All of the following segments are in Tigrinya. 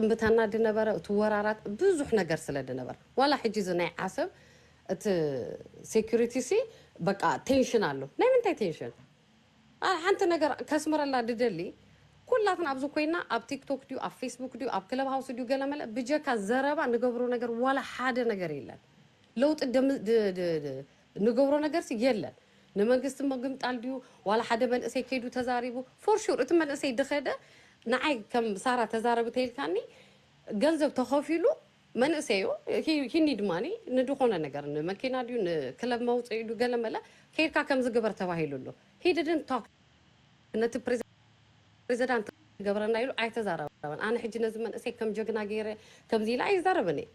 እምብታና ድነበረ እቱ ወራራት ብዙሕ ነገር ስለ ድነበር ዋላ ሕጂ እዚ ናይ ዓሰብ እቲ ሴኩሪቲ ሲ በቃ ቴንሽን ኣሎ ናይ ምንታይ ቴንሽን ኣነ ሓንቲ ነገር ከስምረላ ድደሊ ኩላትና ኣብዚ ኮይና ኣብ ቲክቶክ ድዩ ኣብ ፌስቡክ ድዩ ኣብ ክለብ ሃውስ ድዩ ገለመለ ብጀካ ዘረባ ንገብሮ ነገር ዋላ ሓደ ነገር የለን ለውጢ እንገብሮ ነገርሲ የለን ንመንግስቲ ምግምጣል ድዩ ዋላ ሓደ መንእሰይ ከይዱ ተዛሪቡ ፎር ሹር እቲ መንእሰይ ድኸደ ንዓይ ከም ሳራ ተዛረቢ ተይልካኒ ገንዘብ ተኸፊሉ መንእሰዩ ሂ ኒድ ማኒ ንድኾነ ነገር ንመኪና ድዩ ንክለብ መውፅኢ ድዩ ገለመለ ከይድካ ከምዚ ግበር ተባሂሉ ኣሎ ሂ ድድንት ቶክ ነቲ ፕሬዘዳንት ክገብረና ኢሉ ኣይተዛረበን። ኣነ ሕጂ ነዚ መንእሰይ ከም ጀግና ገይረ ከምዚ ኢለ ኣይዛረብን እየ።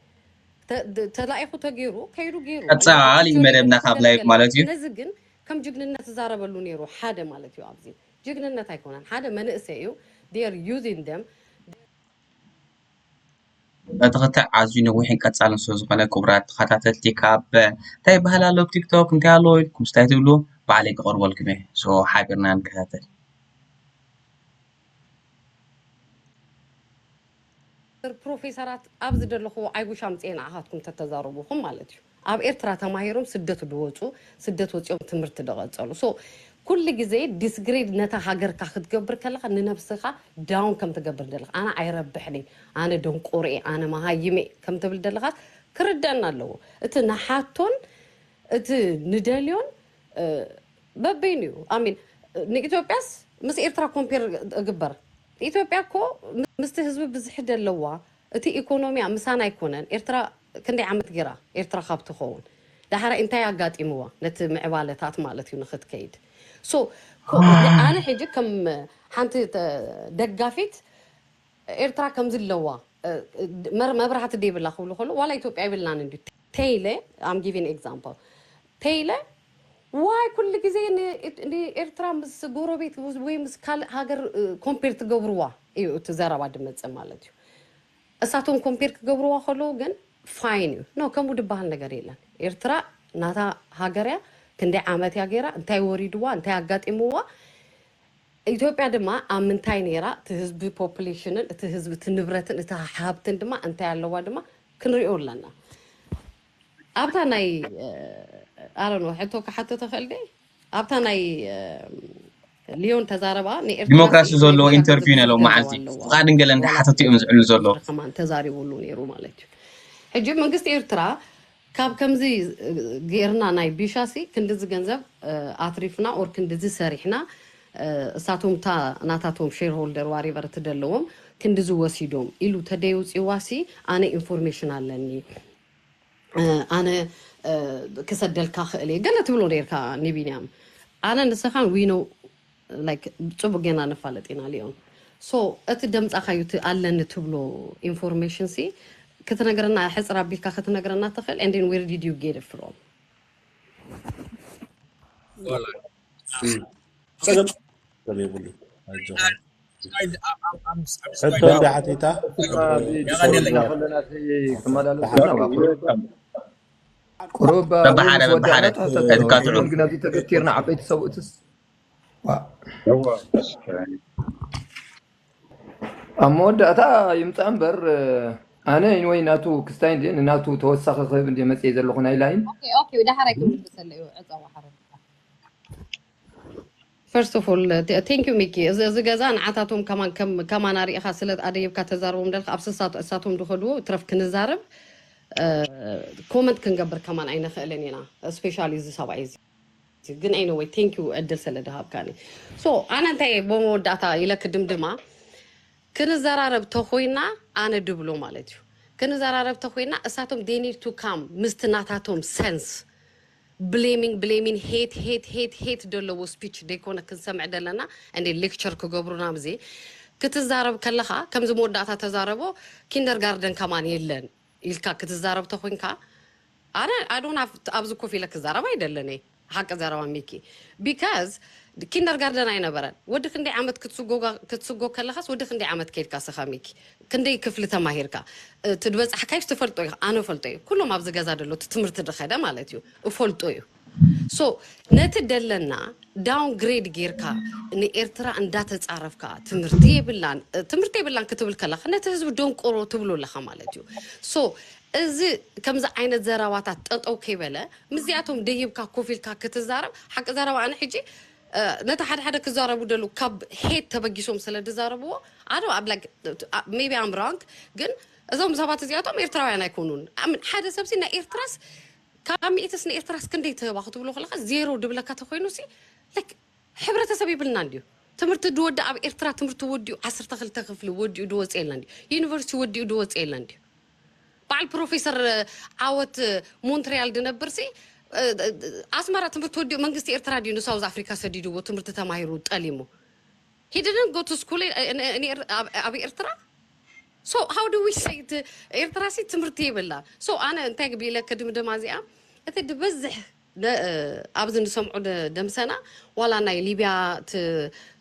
ተ- ድ- ተላኢኹ ተገይሩ ከይዱ ገይሩ እሞ ኣብቲ ቀጻሊ ቲዮሪ መደብና ግን ካብ ላይቭ ክገለገል ማለት ኣለዎ። እዩ። ነዚ ግን ከም ጅግንነት ዝዛረበሉ ነይሩ ሓደ ማለት እዩ። ኣብዚ ጅግንነት ኣይኮነን ሓደ መንእሰይ እዩ they are using them እቲ ክትዕ ኣዝዩ ነዊሕን ቀጻልን ስለ ዝኾነ ክቡራት ተኸታተልቲ ካብ እንታይ ይበሃል ኣሎ ኣብ ቲክቶክ እንታይ ኣሎ ኢልኩም ስለ ዘይትብሉ ባዕለይ ክቐርበልኩም እየ ሶ ሓቢርና ንከታተል። ፕሮፌሰራት ኣብዚ ደለኹዎ ኣይ ዊሽ ኣምጺኤ ንዓኻትኩም ተተዛርቡኹም ማለት እዩ። ኣብ ኤርትራ ተማሂሮም ስደት ዶ ወጹ ስደት ወጺኦም ትምህርቲ ዶ ቀጸሉ so ኩሉ ግዜ ዲስግሪድ ነታ ሃገርካ ክትገብር ከለካ ንነብስካ ዳውን ከም ትገብር ደለካ ኣነ ኣይረብሕን እየ ኣነ ደንቆሮ እየ ኣነ መሃይም እየ ከም ትብል ደለካስ ክርደኣና ኣለዎ እቲ ንሓቶን እቲ ንደልዮን በበይኑ እዩ i mean ንኢትዮጵያስ ምስ ኤርትራ ኮምፔር እግበር ኢትዮጵያ እኮ ምስቲ ህዝቢ ብዝሒ ደለዋ እቲ ኢኮኖሚያ ምሳና ኣይኮነን ኤርትራ ክንደይ ዓመት ጌራ ኤርትራ ካብ ትኾውን ዳሓራይ እንታይ ኣጋጢምዋ ነቲ ምዕባለታት ማለት እዩ ንኽትከይድ so ኮ ኣነ ሕጂ ከም ሓንቲ ደጋፊት ኤርትራ ከምዚ ኣለዋ መብራህቲ ደይብላ ክብሉ ከሎ ዋላ ኢትዮጵያ ኣይብልናን እንድዩ ተይለ ኣም ጊቪን ኤግዛምፕል ተይለ ዋይ ኩሉ ግዜ ንኤርትራ ምስ ጎረቤት ወይ ምስ ካልእ ሃገር ኮምፔር ትገብርዋ እዩ እቲ ዘረባ ድመጽእ ማለት እዩ እሳቶም ኮምፔር ክገብርዋ ከለዉ ግን ፋይን እዩ ኖ ከምኡ ድበሃል ነገር የለን ኤርትራ ናታ ሃገር እያ ክንደይ ዓመት እያ ገይራ እንታይ ወሪድዋ እንታይ ኣጋጢምዋ ኢትዮጵያ ድማ ኣብ ምንታይ ነይራ እቲ ህዝቢ ፖፕሌሽንን እቲ ህዝቢ እቲ ንብረትን እቲ ሃብትን ድማ እንታይ ኣለዋ ድማ ክንሪኦ ኣለና ኣብታ ናይ ኣረኖ ሕቶ ክሓቶ ተኽእል ደ ኣብታ ናይ ልዮን ተዛረባ ንኤርትራ ዲሞክራሲ ስኢት ናይ ዘለዎ ብሻ ኢንተርቪው ናይ ገዝእቲ ሎም ገንዘብ መዓልቲ ኣለዋ ፍቓድን ገለን ዋላ እንዳ ሓተቱ እዮም ጸለመ ዝዕሉ ዘሎ ዝኽሪ ከማን ተዛሪቡሉ ነይሩ ማለት እዩ ሕጂ መንግስቲ ኤርትራ ካብ ከምዚ ጌርና ናይ ቢሻሲ ክንድዚ ገንዘብ እ፣ ኣትሪፍና ኦር ክንድዚ ሰሪሕና እ፣ እሳቶም እታ ናታቶም ሼር ሆልደር ዋሪቨር እትደለዎም ክንድዚ ወሲዶም ኢሉ ተደይውፅዋሲ ኣነ ኢንፎርሜሽን ኣለኒ ኣነ ክሰደልካ ክእል እየ ገለ ትብሎ ነርካ ንቢንያም ኣነ ንስኻን ዊኖ ላይክ ጽቡቅ ጌና ንፋለጥ ኢና ሊዮን ሶ እቲ ደምጻኻዩ እቲ ኣለኒ ትብሎ ኢንፎርሜሽን ሲ ክትነግረና ሕጽር ኣቢልካ ክትነግረና ትኽእል and then where did you get it from ዋላ እም፣ ጸገም ሰብ የብሉን ኣጆኻ ሕቶ እንዳ ሓቲታ ብትፈርምዋ ቁሩብ በብሓደ ምስ በብሓደ ወዳእና ትሕተቶ እቲ ሎሚ ካትዑ ግን ኣብዚ ተገቲርና ዓበይቲ ሰብኡትስ ዋእ እወ እስከ ኣብ መወዳእታ ይምፃእ እምበር ኣነ ወይ ናቱ ክስታይ እንደ ንናቱ ተወሳኺ ክህብ እንደ መፅየ ዘለኹ ናይ ላይን ኦኬ ኦኬ ደሓር ኣይክምልሰለይ ዕፀዋ ሓረግ First of all thank you ሚኪ እዚ እዚ ገዛ ንዓታቶም ከማን ከም ከማና ሪኢኻ ስለ ኣደይብካ ተዛርቦም ደልካ ኣብ ስሳቶ እሳቶም ድኸድዎ ትረፍ ክንዛረብ ኮመንት ክንገብር ከማን ኣይንኽእልን ኢና ስፔሻሊ እዚ ሰብኣይ እዚ ግን ኤኒወይ ቴንክ ዩ እድል ስለ ድሃብካኒ ሶ ኣነ እንታይ ብመወዳእታ ኢለ ክድምድማ ክንዘራረብ ተኾይና ኣነ ድብሎ ማለት እዩ ክንዘራረብ ተኾይና እሳቶም ዴይ ኒድ ቱ ካም ምስቲ ናታቶም ሰንስ ብሌሚን ብሌሚን ሄት ሄት ሄት ሄት ደለዎ ስፒች ደይኮነ ክንሰምዕ ደለና እንዴ ሌክቸር ክገብሩና ብዜ ክትዛረብ ከለኻ ከምዚ መወዳእታ ተዛረቦ ኪንደር ጋርደን ከማን የለን ኢልካ ክትዛረብ ተኮንካ ኣነ ኣይ ዶን ሃቭ ኣብዚ ኮፍ ኢለ ክዛረብ ኣይደልን እየ ሓቂ ዘረባ ሚኪ ቢካዝ ኪንደር ጋርደን ኣይነበረን ወዲ ክንደይ ዓመት ክትስጎጋ ክትስጎ ከለኻስ ወዲ ክንደይ ዓመት ከይድካ ስኻ ሚኪ ክንደይ ክፍሊ ተማሂርካ ትድበጻሕካዮስ ትፈልጦ ኢካ ኣነ ፈልጦ እዩ ኩሎም ኣብዚ ገዛ ደሎ እቲ ትምህርቲ ድከደ ማለት እዩ እፈልጦ እዩ ሶ ነቲ ደለና ዳውን ግሬድ ጌርካ ንኤርትራ እንዳተጻረፍካ ትምህርቲ የብላን ትምህርቲ የብላን ክትብል ከለካ ነቲ ህዝቢ ደንቆሮ ትብሎ ኣለካ ማለት እዩ ሶ እዚ ከምዚ ዓይነት ዘረባታት ጠጠው ከይበለ ምስዚኣቶም ደይብካ ኮፍ ኢልካ ክትዛረብ ሓቂ ዘረባ ኣነ ሕጂ ነቲ ሓደ ሓደ ክዛረቡ ደሉ ካብ ሄት ተበጊሶም ስለ ድዛረብዎ ኣይ ዶንት ላይክ መይቢ ኣም ሮንግ ግን እዞም ሰባት እዚኣቶም ኤርትራውያን ኣይኮኑን ኣም ሓደ ሰብሲ ናይ ኤርትራስ ካብ ሚእትስ ንኤርትራስ ክንደይ ትህባ ክትብሎ ከለካ ዜሮ ድብለካ ተኮይኑሲ ላይክ ሕብረተሰብ የብልናን ድዩ ትምህርቲ ድወዲ ኣብ ኤርትራ ትምህርቱ ወዲኡ ዓሰርተ ክልተ ክፍሊ ወዲኡ ድወጸ የለን ድዩ ዩኒቨርሲቲ ወዲኡ ድወጸ የለን ድዩ በዓል ፕሮፌሰር ዓወት ሞንትሪያል ድነብርሲ ኣስመራ ትምህርቲ ወዲኡ መንግስቲ ኤርትራ ድዩ ንሳውዝ ኣፍሪካ ሰዲድዎ ትምህርቲ ተማሂሩ ጠሊሙ he didn't go to school ኣብ ኤርትራ ሶ ሃው ዱ ዊ ሰይ ኤርትራ ሲ ትምህርቲ የብላ ሶ ኣነ እንታይ ብኢለ ከድምደማ እዚኣ እቲ ድበዝሕ ን ኣብዚ ንሰምዖ ደምሰና ዋላ ናይ ሊብያ እቲ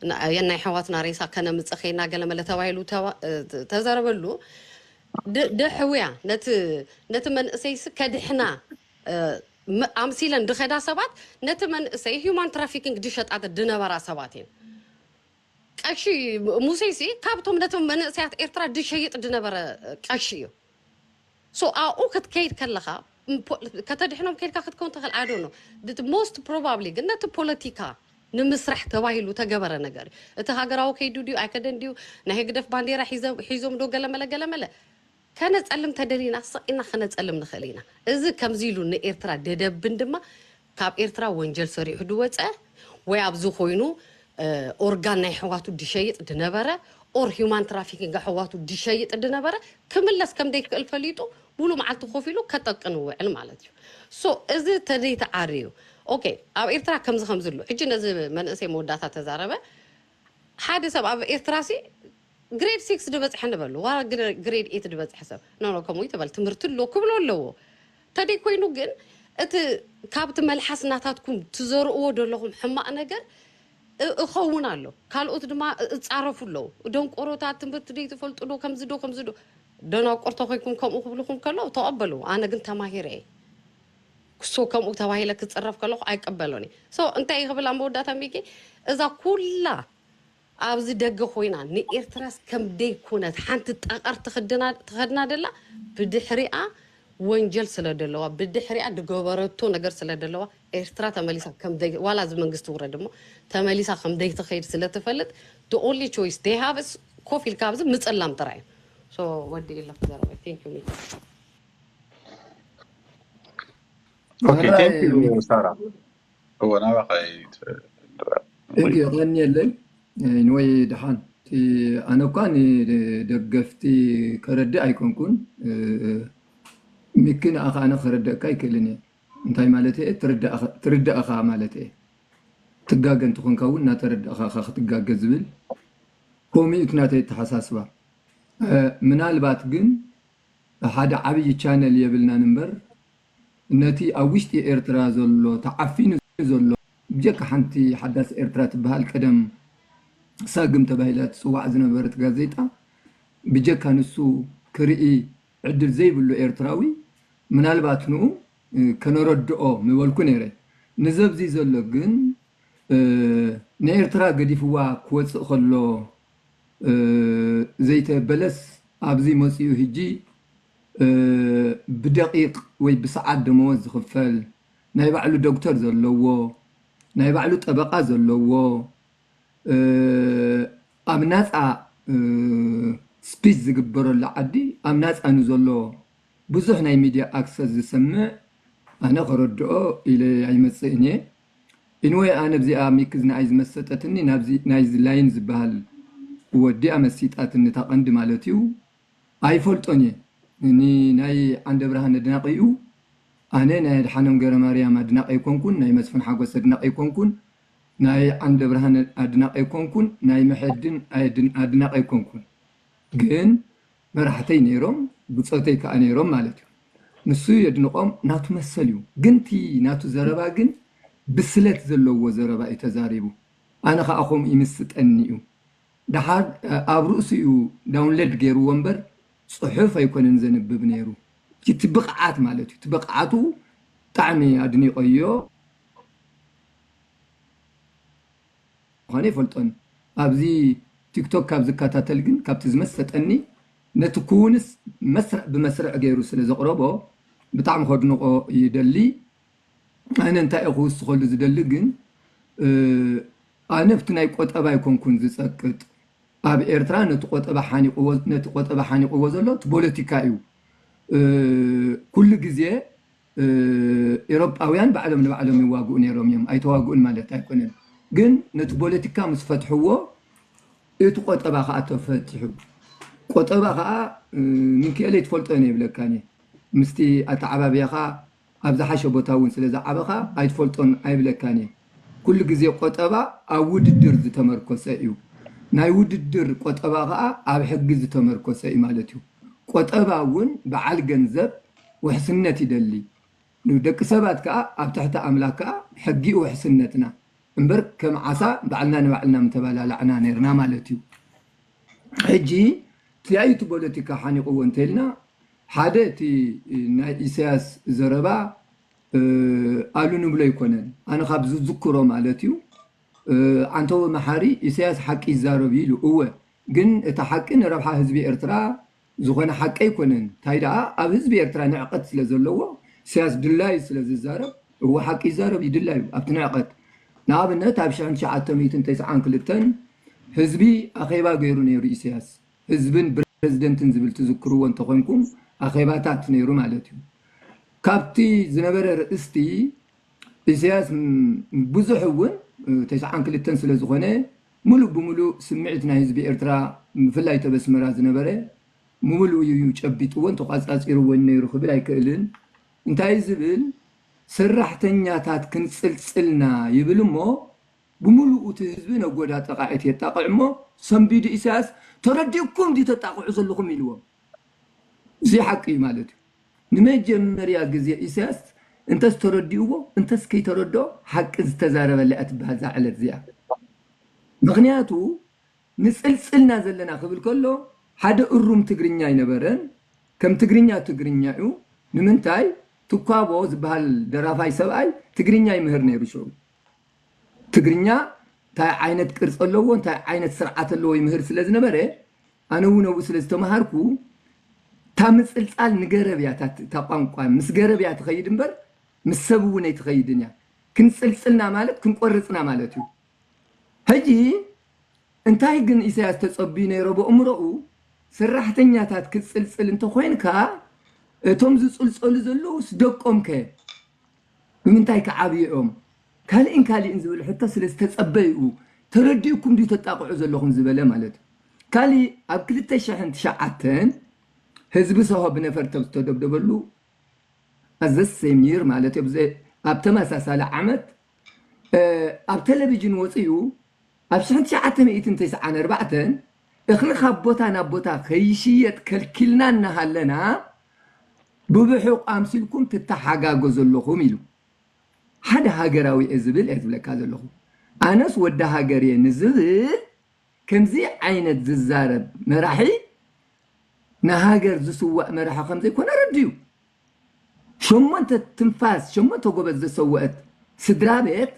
ን ናይ ኣሕዋትና ሬሳ ከነምጽእ ኬድና ገለ መለ ተባሂሉ ተዘረበሉ ን ንሕውያ ነቲ ነቲ መንእሰይሲ ከድሕና ኣምሲለን ድከዳ ሰባት ነቲ መንእሰይ ሂዩማን ትራፊኪንግ ድሸጣ ድነበራ ሰባት እየን ቀሺ ሙሴሲ ካብቶም ነቶም መንእሰያት ኤርትራ ድሸይጥ ድነበረ ቀሺ እዩ። So ኣብኡ ክትከይድ ከለኻ ከተድሕኖም ከይድካ ክትከውን ትኽእል I don't know most probably ግን ነቲ ፖለቲካ ንምስራሕ ተባሂሉ ተገበረ ነገር እዩ እቲ ሃገራዊ ከይዱ ድዩ ኣይከደን ድዩ ናይ ህግደፍ ባንዴራ ሒዞም ዶ ገለመለ ገለመለ ከነጸልም ተደሊና ስቕ ኢልና ክነጸልም ንኽእል ኢና እዚ ከምዚ ኢሉ ንኤርትራ ደደብን ድማ ካብ ኤርትራ ወንጀል ሰሪሑ ድወጸ ወይ ኣብዚ ኮይኑ ኦርጋን ናይ ኣሕዋቱ ድሸይጥ ድነበረ ኦር ሂውማን ትራፊኪንግ ኣሕዋቱ ድሸይጥ ድነበረ ክምለስ ከምደይክእል ፈሊጡ ሙሉእ መዓልቱ ኮፍ ኢሉ ከጠቅን ይውዕል ማለት እዩ ሶ እዚ ተደይተዓርዩ ኦኬ ኣብ ኤርትራ ከምዚ ከምዚ ኣሎ ሕጂ ነዚ መንእሰይ መወዳእታ ተዛረበ ሓደ ሰብ ኣብ ኤርትራሲ ግሬድ ሲክስ ድበጽሐ ንበሉ ዋላ ግሬድ ኤት ድበጽሐ ሰብ ኖኖ ከምኡ ይትበል ትምህርቲ ኣሎ ክብሎ ኣለዎ ተደይ ኮይኑ ግን እቲ ካብቲ መልሓስ ናታትኩም ትዘርኡዎ ደለኹም ሕማቅ ነገር እኸውን ኣሎ ካልኦት ድማ እጻረፉ ኣለዉ ደንቆሮታት ትምህርቲ ደይ ትፈልጡ ዶ ከምዚ ዶ ከምዚ ዶ ደናቁር ተኮይንኩም ከምኡ ክብልኹም ከለዉ ተቀበልዎ ኣነ ግን ተማሂረ እየ ክሶ ከምኡ ተባሂለ ክጽረፍ ከለኹ ኣይቀበሎን እየ ሶ እንታይ ክብል ኣብ መወዳእታ ሚኪ እዛ ኩላ ኣብዚ ደገ ኮይና ንኤርትራስ ከምደይ ኩነት ሓንቲ ጠቀር ትክድና ትከድና ደላ ብድሕሪኣ ወንጀል ስለ ደለዋ ብድሕሪኣ ድገበረቶ ነገር ስለ ደለዋ ኤርትራ ተመሊሳ ከምደይ ዋላ እዚ መንግስቲ ውረድ እሞ ተመሊሳ ከምደይ ትከይድ ስለ ትፈልጥ the only choice they have is ኮፍ ኢልካ ኣብዚ ምጽላም ጥራይ እዩ so ወዲእ ኣለኩ ዘረባይ thank you ሚኪ ኦኬ ቴንክ ዩ ምራይ ሳራ እወ ናባኻ እዩ ተድራር Thank you የቐንየለይ ኢንወይ ደሓን እቲ ኣነ እኳ ንደገፍቲ ከረድእ ኣይኮንኩን እ፣ ሚኪ ንኣኻ ኣነ ከረደእካ ኣይክእልን እየ እንታይ ማለት እየ ትርዳእ ትርዳእ እኻ ማለት እየ ትጋገ እንተኾንካ እውን እናተረዳእኻ እኻ ክትጋገ ዝብል ከምኡ እዩ እቲ ናተይ ኣተሓሳስባ እ፣ ምናልባት ግን ሓደ ዓብዪ ቻነል የብልናን እምበር ነቲ ኣብ ውሽጢ ኤርትራ ዘሎ ተዓፊኑ ዘሎ ብጀካ ሓንቲ ሓዳስ ኤርትራ ትበሃል ቀደም ሳግም ተባሂላ ትጽዋዕ ዝነበረት ጋዜጣ ብጀካ ንሱ ክርኢ ዕድል ዘይብሉ ኤርትራዊ ምናልባት ንኡ ከነረድኦ ምበልኩ ነይረ ንዘብዚ ዘሎ ግን ንኤርትራ ገዲፍዋ ክወጽእ ከሎ ዘይተ በለስ ኣብዚ መጽኡ ህጂ ብደቂቅ ወይ ብሰዓት ደመወዝ ዝኽፈል፣ ናይ ባዕሉ ዶክተር ዘለዎ፣ ናይ ባዕሉ ጠበቓ ዘለዎ፣ ኣብ ናፃ ስፒች ዝግበረሉ ዓዲ ኣብ ናፃ ንዘሎ ብዙሕ ናይ ሚድያ ኣክሰስ ዝሰምዕ ኣነ ክረድኦ ኢለ ኣይመፅእን እየ። Anyway ኣነ ኣብዚኣ ሚኪዝ ንኣይ ዝመሰጠትኒ ናብዚ ናይዚ ላይን ዝበሃል ወዲ እያ መሲጣትኒ እታ ቀንዲ ማለት እዩ። ኣይፈልጦን እየ ን ናይ ዓንደብርሃን ኣድናቂ እዩ ኣነ ናይ ኣድሓኖም ገረማርያም ኣድናቂ ኣይኮንኩን ናይ መስፉን ሓጎስ ኣድናቂ ኣይኮንኩን ናይ ዓንደብርሃን ኣድናቂ ኣይኮንኩን ናይ መሐድን ኣድናቂ ኣይኮንኩን ግን መራሕተይ ነይሮም ብፆተይ ካኣ ነይሮም ማለት እዩ ንሱ የድንቆም ናቱ መሰል እዩ ግን እቲ ናቱ ዘረባ ግን ብስለት ዘለዎ ዘረባ እዩ ተዛሪቡ ኣነ ካኣ ከምኡ ይምስጠኒ እዩ ደሓር ኣብ ርእሱ እዩ ዳውንለድ ገይርዎ እምበር ጽሑፍ ኣይኮነን ዘንብብ ነይሩ እቲ ብቅዓት ማለት እዩ እቲ ብቅዓቱ ብጣዕሚ ኣድኒቀዮ ምኳኑ ኣይፈልጦን ኣብዚ ቲክቶክ ካብ ዝከታተል ግን ካብቲ ዝመሰጠኒ ነቲ ኩውንስ መስርዕ ብመስርዕ ገይሩ ስለ ዘቅረቦ ብጣዕሚ ከድንቆ ይደሊ ኣነ እንታይ እየ ክውስኸሉ ዝደሊ ግን ኣነብቲ ናይ ቆጠባ ኣይኮንኩን ዝፀቅጥ ኣብ ኤርትራ ነቲ ቆጠባ ሓኒቕዎ ነቲ ቆጠባ ሓኒቕዎ ዘሎ እቲ ቦለቲካ እዩ ኩሉ ግዜ ኤሮጳውያን ባዕሎም ንባዕሎም ይዋግኡ ነይሮም እዮም ኣይተዋግኡን ማለት ኣይኮነን ግን ነቲ ቦለቲካ ምስ ፈትሕዎ እቲ ቆጠባ ከዓ ተፈትሑ ቆጠባ ከዓ ምንክኤለይ ትፈልጦ እየ ይብለካ ምስቲ ኣተዓባብያኻ ኣብ ዝሓሸ ቦታ እውን ስለ ዝዓበኻ ኣይትፈልጦን ኣይብለካን እየ። ኩሉ ግዜ ቆጠባ ኣብ ውድድር ዝተመርኮሰ እዩ። ናይ ውድድር ቆጠባ ከኣ ኣብ ሕጊ ዝተመርኮሰ እዩ ማለት እዩ። ቆጠባ እውን በዓል ገንዘብ ውሕስነት ይደሊ። ን ደቂ ሰባት ከኣ ኣብ ትሕቲ ኣምላክ ከኣ ሕጊ እዩ ውሕስነትና። እምበር ከም ዓሳ ባዕልና ንባዕልና ምተባላላዕና ኔርና ማለት እዩ። ሕጂ ትያዩ እቲ ቦለቲካ ሓኒቅዎ እንተኢልና ሓደ እቲ ናይ ኢሰያስ ዘረባ ኣሉ ንብሎ ኣይኮነን ኣነ ካብ ዝዝክሮ ማለት እዩ ዓንተቦ መሓሪ ኢሰያስ ሓቂ ይዛረብ እዩ ኢሉ እወ ግን እቲ ሓቂ ንረብሓ ህዝቢ ኤርትራ ዝኾነ ሓቂ ኣይኮነን ታይ ደኣ ኣብ ህዝቢ ኤርትራ ንዕቀት ስለ ዘለዎ ኢሰያስ ድላዩ ስለ ዝዛረብ እወ ሓቂ ይዛረብ እዩ ድላዩ ኣብቲ ንዕቀት ንኣብነት ኣብ ሽሕን ትሽዓተ ሚእትን ተስዓን ክልተን ህዝቢ ኣኼባ ገይሩ ነይሩ ኢሰያስ ህዝብን ብረዚደንትን ዝብል ትዝክርዎ እንተኾንኩም ኣኼባታት ነይሩ ማለት እዩ። ካብቲ ዝነበረ ርእስቲ ኢሰያስ ብዙሕ እውን ተስዓን ክልተን ስለ ዝኾነ ምሉእ ብምሉእ ስምዒት ናይ ህዝቢ ኤርትራ ብፍላይ እቲ ኣብ ኣስመራ ዝነበረ ምሉእ እዩ ጨቢጥዎን ተቋጻጺርዎን ነይሩ ክብል ኣይክእልን። እንታይ ዝብል ሰራሕተኛታት ክንጽልጽልና ይብል እሞ ብምሉኡ እቲ ህዝቢ ነጎዳጠቓዒት የጣቕዕ እሞ ሰንቢዱ ኢሳያስ ተረዲኡኩም ድዩ ተጣቕዑ ዘለኹም ኢልዎም እዙይ ሓቂ እዩ ማለት እዩ ንመጀመርያ ግዜ ኢሳያስ እንተስ ተረዲኡዎ እንተስ ከይተረድኦ ሓቂ ዝተዛረበላ እያ ትበሃል እዛ ዕለት እዚኣ ምኽንያቱ ንጽልጽልና ዘለና ክብል ከሎ ሓደ እሩም ትግርኛ ኣይነበረን ከም ትግርኛ ትግርኛ እዩ ንምንታይ ትኳቦ ዝበሃል ደራፋይ ሰብኣይ ትግርኛ ይምህር ነይሩ ሽዑ ትግርኛ ታይ ዓይነት ቅርፂ ኣለዎ ታይ ዓይነት ስርዓት ኣለዎ ይምህር ስለ ዝነበረ ኣነ እውን ኣብኡ ስለ ዝተምሃርኩ እታ ምፅልፃል ንገረብ እያ እታ ቋንቋ ምስ ገረብ እያ ትኸይድ እምበር ምስ ሰብ እውን ኣይትኸይድን እያ ክንፅልፅልና ማለት ክንቆርፅና ማለት እዩ ሕጂ እንታይ ግን ኢሳያስ ተፀብዩ ነይሮ ብእምሮኡ ሰራሕተኛታት ክትፅልፅል እንተኾይንካ እቶም ዝፅልፀሉ ዘለውስ ደቆም ከ ብምንታይ ክዓብዩ እዮም? ካልእን ካልእን ዝብል ሕቶ ስለ ዝተጸበይኡ ተረዲኡኩም ድዩ ተጣቕዑ ዘለኹም ዝበለ ማለት እዩ። ካልእ ኣብ ክልተ ሽሕን ትሽዓተን ህዝቢ ሰሆ ብነፈርቲ ኣብ ዝተደብደበሉ at the same year ማለት እዩ ኣብ ተመሳሳሊ ዓመት ኣብ ተለቪጅን ወጺኡ ኣብ ሽሕን ትሽዓተ ሚእትን ተስዓን ኣርባዕተን እኽሊ ካብ ቦታ ናብ ቦታ ከይሽየጥ ከልኪልና እናሃለና ብብሑቕ ኣምሲልኩም ትተሓጋገዙ ኣለኹም ኢሉ ሓደ ሃገራዊ እየ ዝብል እየ ዝብለካ ዘለኹ ኣነስ ወዲ ሃገር እየ ንዝብል ከምዚ ዓይነት ዝዛረብ መራሒ ንሃገር ዝስዋእ መራሒ ከምዘይኮነ ኣረዲኡ ሸሞንተ ትንፋስ ሸሞንተ ጎበዝ ዘሰወእት ስድራቤት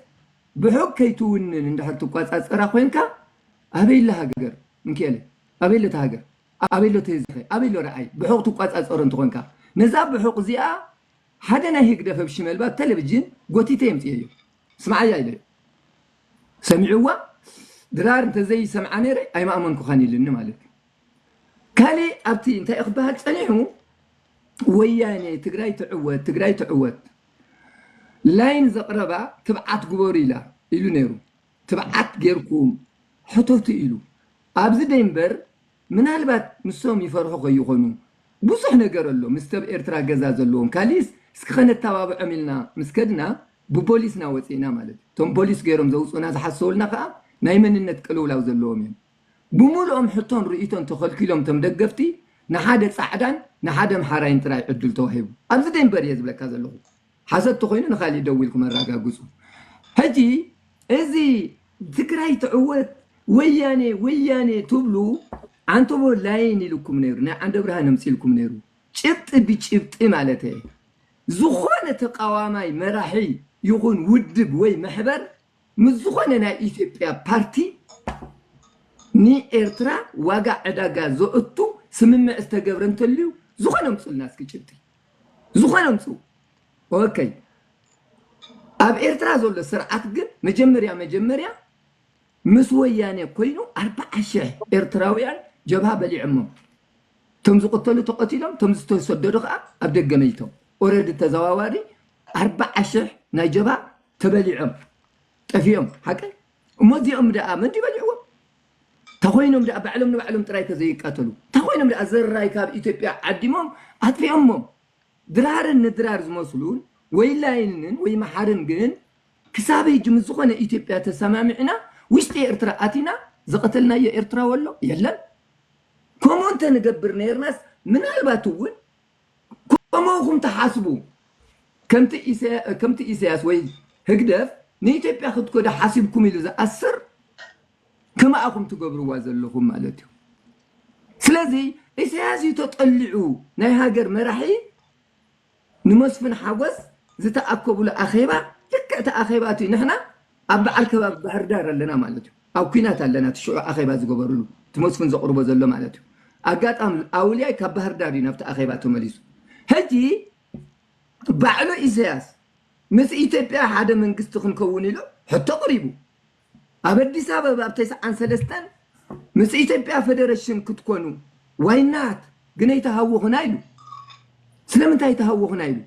ብሑቕ ከይትውንን እንድሕር ትቆጻጸራ ኮንካ ኣበይ ኣላ ሃገር ምኪኤለ ኣበይ ኣላ እታ ሃገር ኣበይ ኣሎ ተዘኸ ኣበይ ኣሎ ርኣይ ብሑቕ ትቋጻጸሮ እንተኾንካ ነዛ ብሑቕ እዚኣ ሓደ ናይ ህግደፍ ብ ሽመልባ ብ ተለብጅን ጎቲተ የምጽኤዮ ስምዓያ ኢለዮ ሰሚዕዋ ድራር እንተዘይ ሰምዓ ነይረ ኣይምኣመንኩኻን ኢልኒ ማለት እዩ ካሊእ ኣብቲ እንታይ እዩ ክበሃል ጸኒሑ ወያኔ ትግራይ ትዕወት ትግራይ ትዕወት ላይን ዘቕረባ ትብዓት ግበሩ ኢላ ኢሉ ነይሩ ትብዓት ጌርኩም ሕተቱ ኢሉ ኣብዚ ደይምበር ምናልባት ንሶም ይፈርሑ ከይኾኑ ብዙሕ ነገር ኣሎ ምስ ሰብ ኤርትራ ገዛ ዘለዎም ካሊእስ እስኪ ከነታባብዖም ኢልና ምስ ከድና ብቦሊስና ወጺእና ማለት እዩ እቶም ቦሊስ ጌሮም ዘውጹኡና ዝሓሰውልና ከኣ ናይ መንነት ቅልውላው ዘለዎም እዮም ብሙሉኦም ሕቶን ርእይቶን ተኸልኪሎም እቶም ደገፍቲ ንሓደ ጻዕዳን ንሓደ ኣምሓራይን ጥራይ ዕድል ተዋሂቡ ኣብዚ ደይምበር እየ ዝብለካ ዘለኹ ሓሶት ተኾይኑ ንካሊእ ደዊልኩም ኣራጋግፁ። ሕጂ እዚ ትግራይ ትዕወት ወያኔ ወያኔ ትብሉ ዓንተቦ ላይን ኢሉኩም ነይሩ ናይ ዓንደብርሃን ኣምፂልኩም ነይሩ ጭብጢ ብጭብጢ ማለት እየ ዝኾነ ተቃዋማይ መራሒ ይኹን ውድብ ወይ መሕበር ምስ ዝኾነ ናይ ኢትዮጵያ ፓርቲ ንኤርትራ ዋጋ ዕዳጋ ዘእቱ ስምምዕ ዝተገብረ እንተልዩ ዝኾነ ኣምፁልና እስኪ ጭብጢ ዝኾነ ኣምጽኡ ኦከይ ኣብ ኤርትራ ዘሎ ስርዓት ግን መጀመርያ መጀመርያ ምስ ወያኔ ኮይኑ ኣርብዓ ሽሕ ኤርትራውያን ጀብሃ በሊዖሞም እቶም ዝቕተሉ ተቐቲሎም እቶም ዝተሰደዱ ከዓ ኣብ ደገ መይቶም ኦረዲ ተዘዋዋሪ ኣርብዓ ሽሕ ናይ ጀብሃ ተበሊዖም ጠፊኦም ሓቀይ እሞ እዚኦም ደኣ መን ድዩ በሊዕዎም ተኾይኖም ድኣ ባዕሎም ንባዕሎም ጥራይ ተዘይቃተሉ ተኾይኖም ድኣ ዘራይ ካብ ኢትዮጵያ ዓዲሞም ኣጥፊኦሞም ድራርን ንድራር ዝመስሉን ወይላይንን ወይ መሓርን ግን ክሳብ ህጂ ምስ ዝኾነ ኢትዮጵያ ተሰማሚዕና ውሽጢ ኤርትራ ኣቲና ዝቐተልናዮ ኤርትራዊ ኣሎ የለን ከምኡ እንተንገብር ነይርናስ ምናልባት እውን ከምኡኹም ትሓስቡ ከምቲ ኢሳያስ ወይ ህግደፍ ንኢትዮጵያ ክትከዱ ሓሲብኩም ኢሉ ዝኣስር ከማኣ ኢኹም ትገብርዋ ዘለኹም ማለት እዩ ስለዚ ኢሰያስ እዩ ተጠሊዑ ናይ ሃገር መራሒ ንመስፍን ሓጎስ ዝተኣከብሉ ኣኼባ ልክዕ እቲ ኣኼባ እቲ ንሕና ኣብ በዓል ከባቢ ባህርዳር ኣለና ማለት እዩ ኣብ ኩናት ኣለና እቲ ሽዑ ኣኼባ ዝገበርሉ እቲ መስፍን ዘቕርቦ ዘሎ ማለት እዩ ኣጋጣሚ ኣውልያይ ካብ ባህርዳር እዩ ናብቲ ኣኼባ ተመሊሱ ሕጂ ባዕሉ ኢሰያስ ምስ ኢትዮጵያ ሓደ መንግስቲ ክንከውን ኢሉ ሕቶ ቅሪቡ ኣብ ኣዲስ ኣበባ ብ ተስዓን ሰለስተን ምስ ኢትዮጵያ ፈደረሽን ክትኮኑ ዋይ ናት ግነይ ተሃውኹና ኢሉ ስለምንታይ ተሃውኹና ኢሉ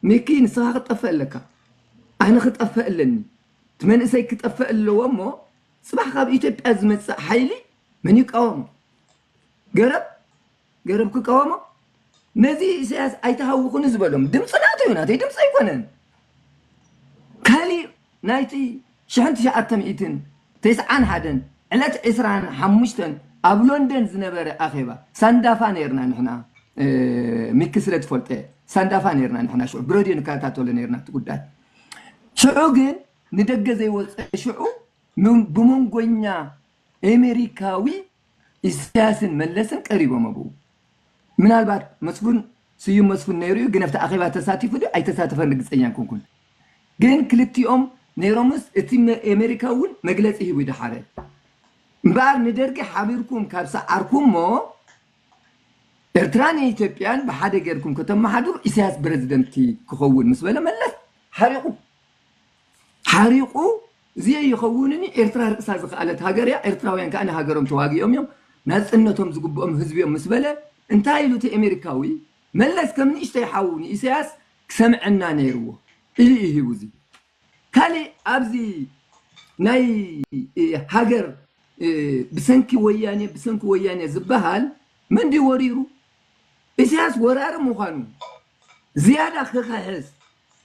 ሚኪ ንስኻ ክትጠፍእ ኣለካ ኣነ ክጠፍእ ኣለኒ እቲ መንእሰይ ክጠፍእ ኣለዎ እሞ ጽባሕ ካብ ኢትዮጵያ ዝመጽእ ሓይሊ መን ይቃወሞ ገረብ ገረብ ክቃወሞ ነዚ ኢሳያስ ኣይትሃውኹኒ ዝበሎም ድምፂ ናቱ እዩ ናተይ ድምፂ ኣይኮነን ካሊእ ናይቲ ሽሕን ትሽዓተ ሚእትን ተስዓን ሓደን ዕለት ዕስራን ሓሙሽተን ኣብ ሎንደን ዝነበረ ኣኼባ ሳንዳፋ ነርና ንሕና ሚኪ ስለ ትፈልጦ ሳንዳፋ ነርና ንሕና ሽዑ ብረድዮ ንከታተሎ ነርና እቲ ጉዳይ ሽዑ ግን ንደገ ዘይወፀ ሽዑ ብመንጎኛ ኣሜሪካዊ ኢሳያስን መለስን ቀሪቦም ኣብኡ ምናልባት መስፉን ስዩም መስፉን ነይሩ እዩ ግን ኣብቲ ኣኼባ ተሳቲፉ ድዩ ኣይተሳተፈን ርግጸኛ ኣይኮንኩን ግን ክልቲኦም ነይሮምስ እቲ ኣሜሪካ እውን መግለጺ ሂቡ ድሓረ እምበኣር ንደርጊ ሓቢርኩም ካብ ሰዓርኩሞ ኤርትራን ኢትዮጵያን ብሓደ ጌርኩም ከተመሓድሩ ኢሳያስ ፕረዚደንት ክኸውን ምስ በለ መለስ ሓሪቑ ሓሪቁ ዝየይኸውንኒ ኤርትራ ርእሳ ዝኸኣለት ሃገር እያ ኤርትራውያን ከኣ ንሃገሮም ተዋጊኦም እዮም ናጽነቶም ዝግብኦም ህዝቢ እዮም ምስ በለ እንታይ ኢሉ እቲ ኤሜሪካዊ መለስ ከም ንእሽተይ ሓው ንኢሰያስ ክሰምዐና ነይርዎ ኢሉ እዩ ሂቡ እዚ ካሊእ ኣብዚ ናይ ሃገር ብሰንኪ ወያኔ ብሰንኪ ወያኔ ዝበሃል መን ድዩ ወሪሩ ኢሰያስ ወራሪ ምዃኑ ዝያዳ ክኽሕስ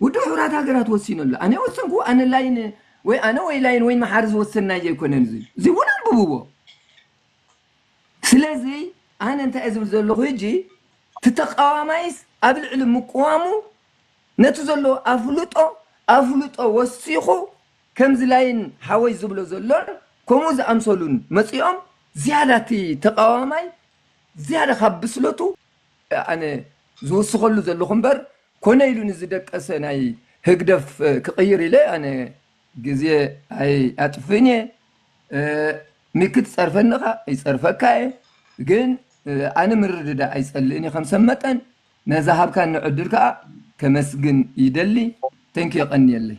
ውድብ ሕቡራት ሃገራት ወሲኑ ኣሎ ኣነ ወሰንኩ ኣነ ላይን ወይ ኣነ ወይ ላይን ወይ መሓሪ ዝወሰንናይ ዘይኮነን እዚ እዚ እውን ኣንብብዎ ስለዚ ኣነ እንታይ ዝብል ዘለኹ ሕጂ እቲ ተቃዋማይስ ኣብ ልዕሊ ምቅዋሙ ነቲ ዘሎ ኣፍልጦ ኣፍልጦ ወሲኹ ከምዚ ላይን ሓወይ ዝብሎ ዘሎን ከምኡ ዝኣምሰሉን መፂኦም ዝያዳ እቲ ተቃዋማይ ዝያዳ ካብ ብስለቱ ኣነ ዝውስኸሉ ዘለኹ እምበር ኮነ ኢሉ ንዝደቀሰ ናይ ህግደፍ ክቕይር ኢለ ኣነ ግዜ ኣይኣጥፍእን እየ። ሚኪ ትጸርፈኒ እኻ ይጸርፈካ እየ ግን ኣነ ምርድዳእ ኣይጸልእን እየ ከም ሰብ መጠን። ነዛ ሃብካኒ ዕድል ከኣ ከመስግን ይደሊ። Thank you የቐንየለይ።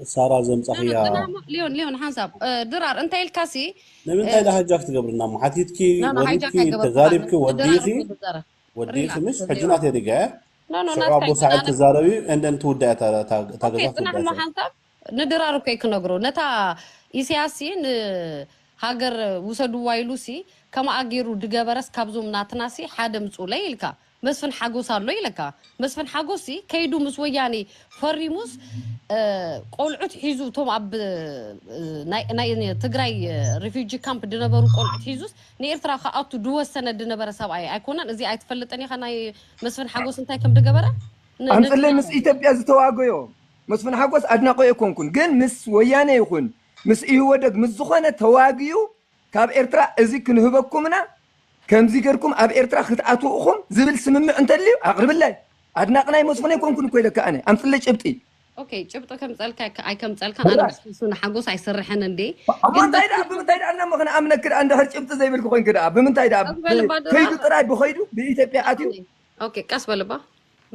ሳራ ዘምጻኽያ ኖኖኖ ሊዮን ሊዮን ሓንሳብ እ፣ ድራር እንታይ ኢልካሲ ንምንታይ ዳ ሃጃክ ትገብርና እሞ ሓቲትኪ ኖኖ ሃይጃክ ወሪድኪ ኣይገበርኩኻን ተዛሪብኪ ን ድራር ወዲኢኺ እኮ ዝዛረብ ወዲኢኺ ሪላክስ ምሽ ሕጂ ሊዮን ናተይ ሪጋ እያ ኖኖ ሽዑ ናትካ ኣቦ ሳዕል ኣይተዛረብን ትዛረብ እዩ and then ትውዳእ እያ እታ- እታ እታ ኦኬ ገዛ ጽናሕ ክትውዳእ እሞ እያ ሓንሳብ ንድራር እኮ እዩ ክነግሮ ነታ ኢሳያስ ሲ ንሃገር ውሰድዋ ኢሉሲ ከምኣ ጌሩ ድገበረስ ካብዞም ናትናሲ ሓደ ምጹኡለይ ኢልካ መስፍን ሓጎስ ኣሎ ኢለካ መስፍን ሓጎስ ሲ ከይዱ ምስ ወያኔ ፈሪሙስ ቆልዑት ሒዙ እቶም ኣብ ናይ ትግራይ ሪፊጂ ካምፕ ድነበሩ ቆልዑት ሒዙስ ንኤርትራ ክኣቱ ድወሰነ ድነበረ ሰብኣይ ኣይኮነን እዚ ኣይትፈልጥን ኢኻ ናይ መስፍን ሓጎስ እንታይ ከም ድገበረ ኣምጽለይ ምስ ኢትዮጵያ ዝተዋገዮ መስፍን ሓጎስ ኣድናቆይ ኣይኮንኩን ግን ምስ ወያኔ ይኹን ምስ ኢህወደግ ምስ ዝኾነ ተዋግዩ ካብ ኤርትራ እዚ ክንህበኩም እና ከምዚ ገርኩም ኣብ ኤርትራ ክትኣትዉ እኹም ዝብል ስምምዕ እንተልዩ ኣቅርብለይ ኣድናቂ ናይ መስፉን ኣይኮንኩን እኮ ኢለካ ኣነ ኣምጽለይ ጭብጢ። ኦኬ ጭብጢ ከምጸልካ ኣይከምጸልካ ኣነ ምስ ፍሱ ንሓጎስ ኣይስርሕን እንዴ ኣሞ ግን እንታይ ደኣ ብምንታይ ደኣ እሞ ክንኣምነኪ ደኣ እንድሕር ጭብጢ ዘይብልኪ ኮይንኪ ደኣ ብምንታይ ደኣ ብ ከይዱ ጥራይ ብከይዱ ብኢትዮጵያ ኣትዩ ኦኬ ቀስ በል እባ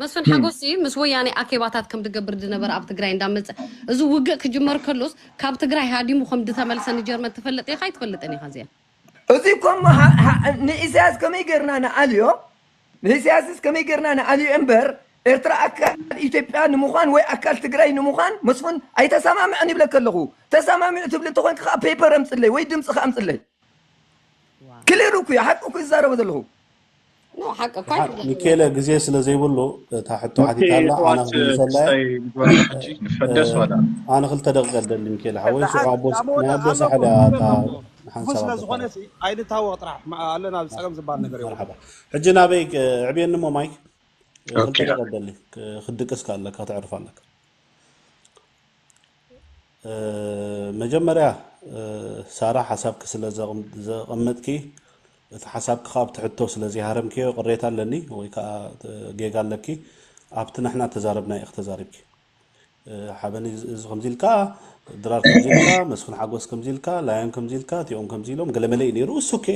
መስፍን ሓጎስ ምስ ወያኔ ኣኬባታት ከም ድገብር ድነበረ ኣብ ትግራይ እንዳመጸ እዚ ውግእ ክጅመር ከሎስ ካብ ትግራይ ሃዲሙ ከም ድተመልሰ ንጀርመን ትፈልጥ ኢኻ ኣይትፈልጥን ኢኻ እዚኣ እዚ እኮ እሞ ሃ- ሃ- ንኢሳያስ ከመይ ጌርና ንኣልዮ ንኢሳያስስ ከመይ ጌርና ንኣልዮ እምበር ኤርትራ ኣካል ኢትዮጵያ ንምዃን ወይ ኣካል ትግራይ ንምዃን መስፍን ኣይተሰማምዐን ይብለካ ኣለኹ ተሰማሚዑ ትብሊ እንተኾይንካ ከዓ ፔፐር ኣምፅለይ ወይ ድምፅኻ ኣምፅለይ ክሊር እኩዩ ሓቂ እኩዩ ዝዛረቦ ዘለኹ ሚኬለ ግዜ ስለ ዘይብሉ እታ ሕቶ ሓቲታ ኣላ ኣነ ክምልሰላየ ኣነ ክልተ ደቂቀ ደሊ ሚኬለ ሓወይ ሽዑ ኣቦስ ናይ ኣቦ ሳሕል እያ እታ ንሓንሳብ ስለ ዝኾነ ኣይንታወቅ ጥራሕ ኣለና ፀገም ዝበሃል ነገር መርሓባ ሕጂ ናበይ ዕብየኒ እሞ ማይክ ክልተ ደቂቀ ደሊ ክድቅስ ኣለካ ተዕርፍ ኣለካ መጀመርያ ሳራ ሓሳብኪ ስለ ዘቀመጥኪ እቲ ሓሳብኪ ከኣ ኣብቲ ሕቶ ስለ ዘይሃረምክዮ ቅሬታ ኣለኒ ወይ ከኣ ጌጋ ኣለኪ ኣብቲ ንሕና እተዛረብናዮ ኢኪ ተዛሪብኪ ሓበን እዚ ከምዚ ኢልካ ድራር ከምዚ ኢልካ መስፍን ሓጎስ ከምዚ ኢልካ ላዮን ከምዚ ኢልካ እቲኦም ከምዚ ኢሎም ገለመለ እዩ ነይሩ እሱ ኦኬ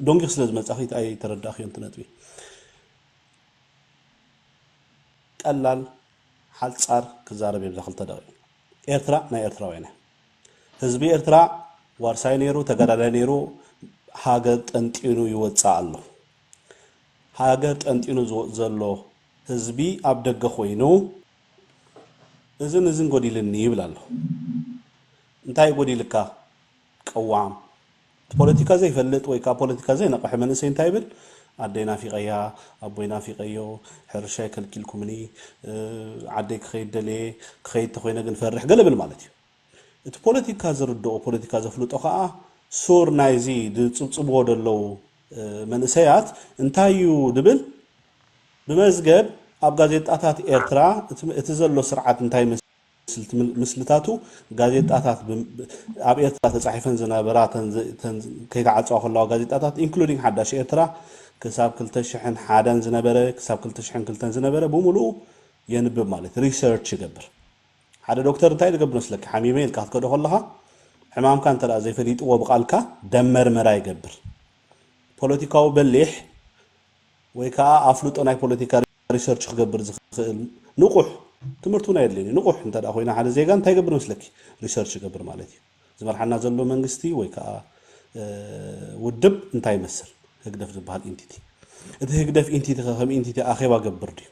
ዶንጊክ ስለ ዝመጻኺ ኣይተረዳእክዮን እቲ ነጥቢ ቀላል ሓጻር ክዛረብ እየ ብዛ ክልተ ደቂቅ። ኤርትራ ናይ ኤርትራውያን እያ። ህዝቢ ኤርትራ ዋርሳይ ነይሩ ተጋዳላይ ነይሩ ሃገር ጠንጢኑ ይወጽእ ኣሎ። ሃገር ጠንጢኑ ዝወጽእ ዘሎ ህዝቢ ኣብ ደገ ኮይኑ እዝን እዝን ጎዲልኒ ይብል ኣሎ። እንታይ እዩ ጎዲልካ? ቅዋም፣ ፖለቲካ ዘይፈልጥ ወይ ካብ ፖለቲካ ዘይነቐሐ መንእሰይ እንታይ ይብል ኣደይ ናፊቐያ ኣቦይ ናፊቐዮ ሕርሻይ ከልኪልኩምኒ ዓደይ ክኸይድ ደልየ ክኸይድ ተኾይነ ግን ፈርሕ ገለ ብል ማለት እዩ እቲ ፖለቲካ ዝርድኦ ፖለቲካ ዘፍልጦ ከኣ ሱር ናይዚ ዝጽብጽብዎ ደለዉ መንእሰያት እንታይ እዩ ድብል ብመዝገብ ኣብ ጋዜጣታት ኤርትራ እቲ ዘሎ ስርዓት እንታይ ስልቲ ምስልታቱ ጋዜጣታት ብ ኣብ ኤርትራ ተጻሒፈን ዝነበራ እተን ዘ እተን ከይተዓጽዋ ከለዋ ጋዜጣታት including ሓዳሽ ኤርትራ ክሳብ ክልተ ሽሕን ሓደን ዝነበረ ክሳብ ክልተ ሽሕን ክልተን ዝነበረ ብምሉኡ የንብብ ማለት እዩ research ይገብር ሓደ ዶክተር እንታይ ዝገብር መስለኪ ሓሚመ ኢልካ ክትከዶ ከለኻ ሕማምካ እንተ ዘይፈሊጥዎ ብቃልካ ደም መርመራ ይገብር ፖለቲካዊ በሊሕ ወይ ከኣ ኣፍልጦ ናይ ፖለቲካ ሪሰርች ክገብር ዝኽእል ንቑሕ፣ ትምህርቲ እውን ኣየድልዮን እዩ፣ ንቑሕ እንተድኣ ኮይኑ ሓደ ዜጋ እንታይ ይገብር መስለኪ? ሪሰርች ይገብር ማለት እዩ። ዝመርሓና ዘሎ መንግስቲ ወይ ከኣ ውድብ እንታይ ይመስል? ህግደፍ ዝበሃል ኢንቲቲ። እቲ ህግደፍ ኢንቲቲ ከ ከም ኢንቲቲ ኣኼባ ይገብር ድዩ?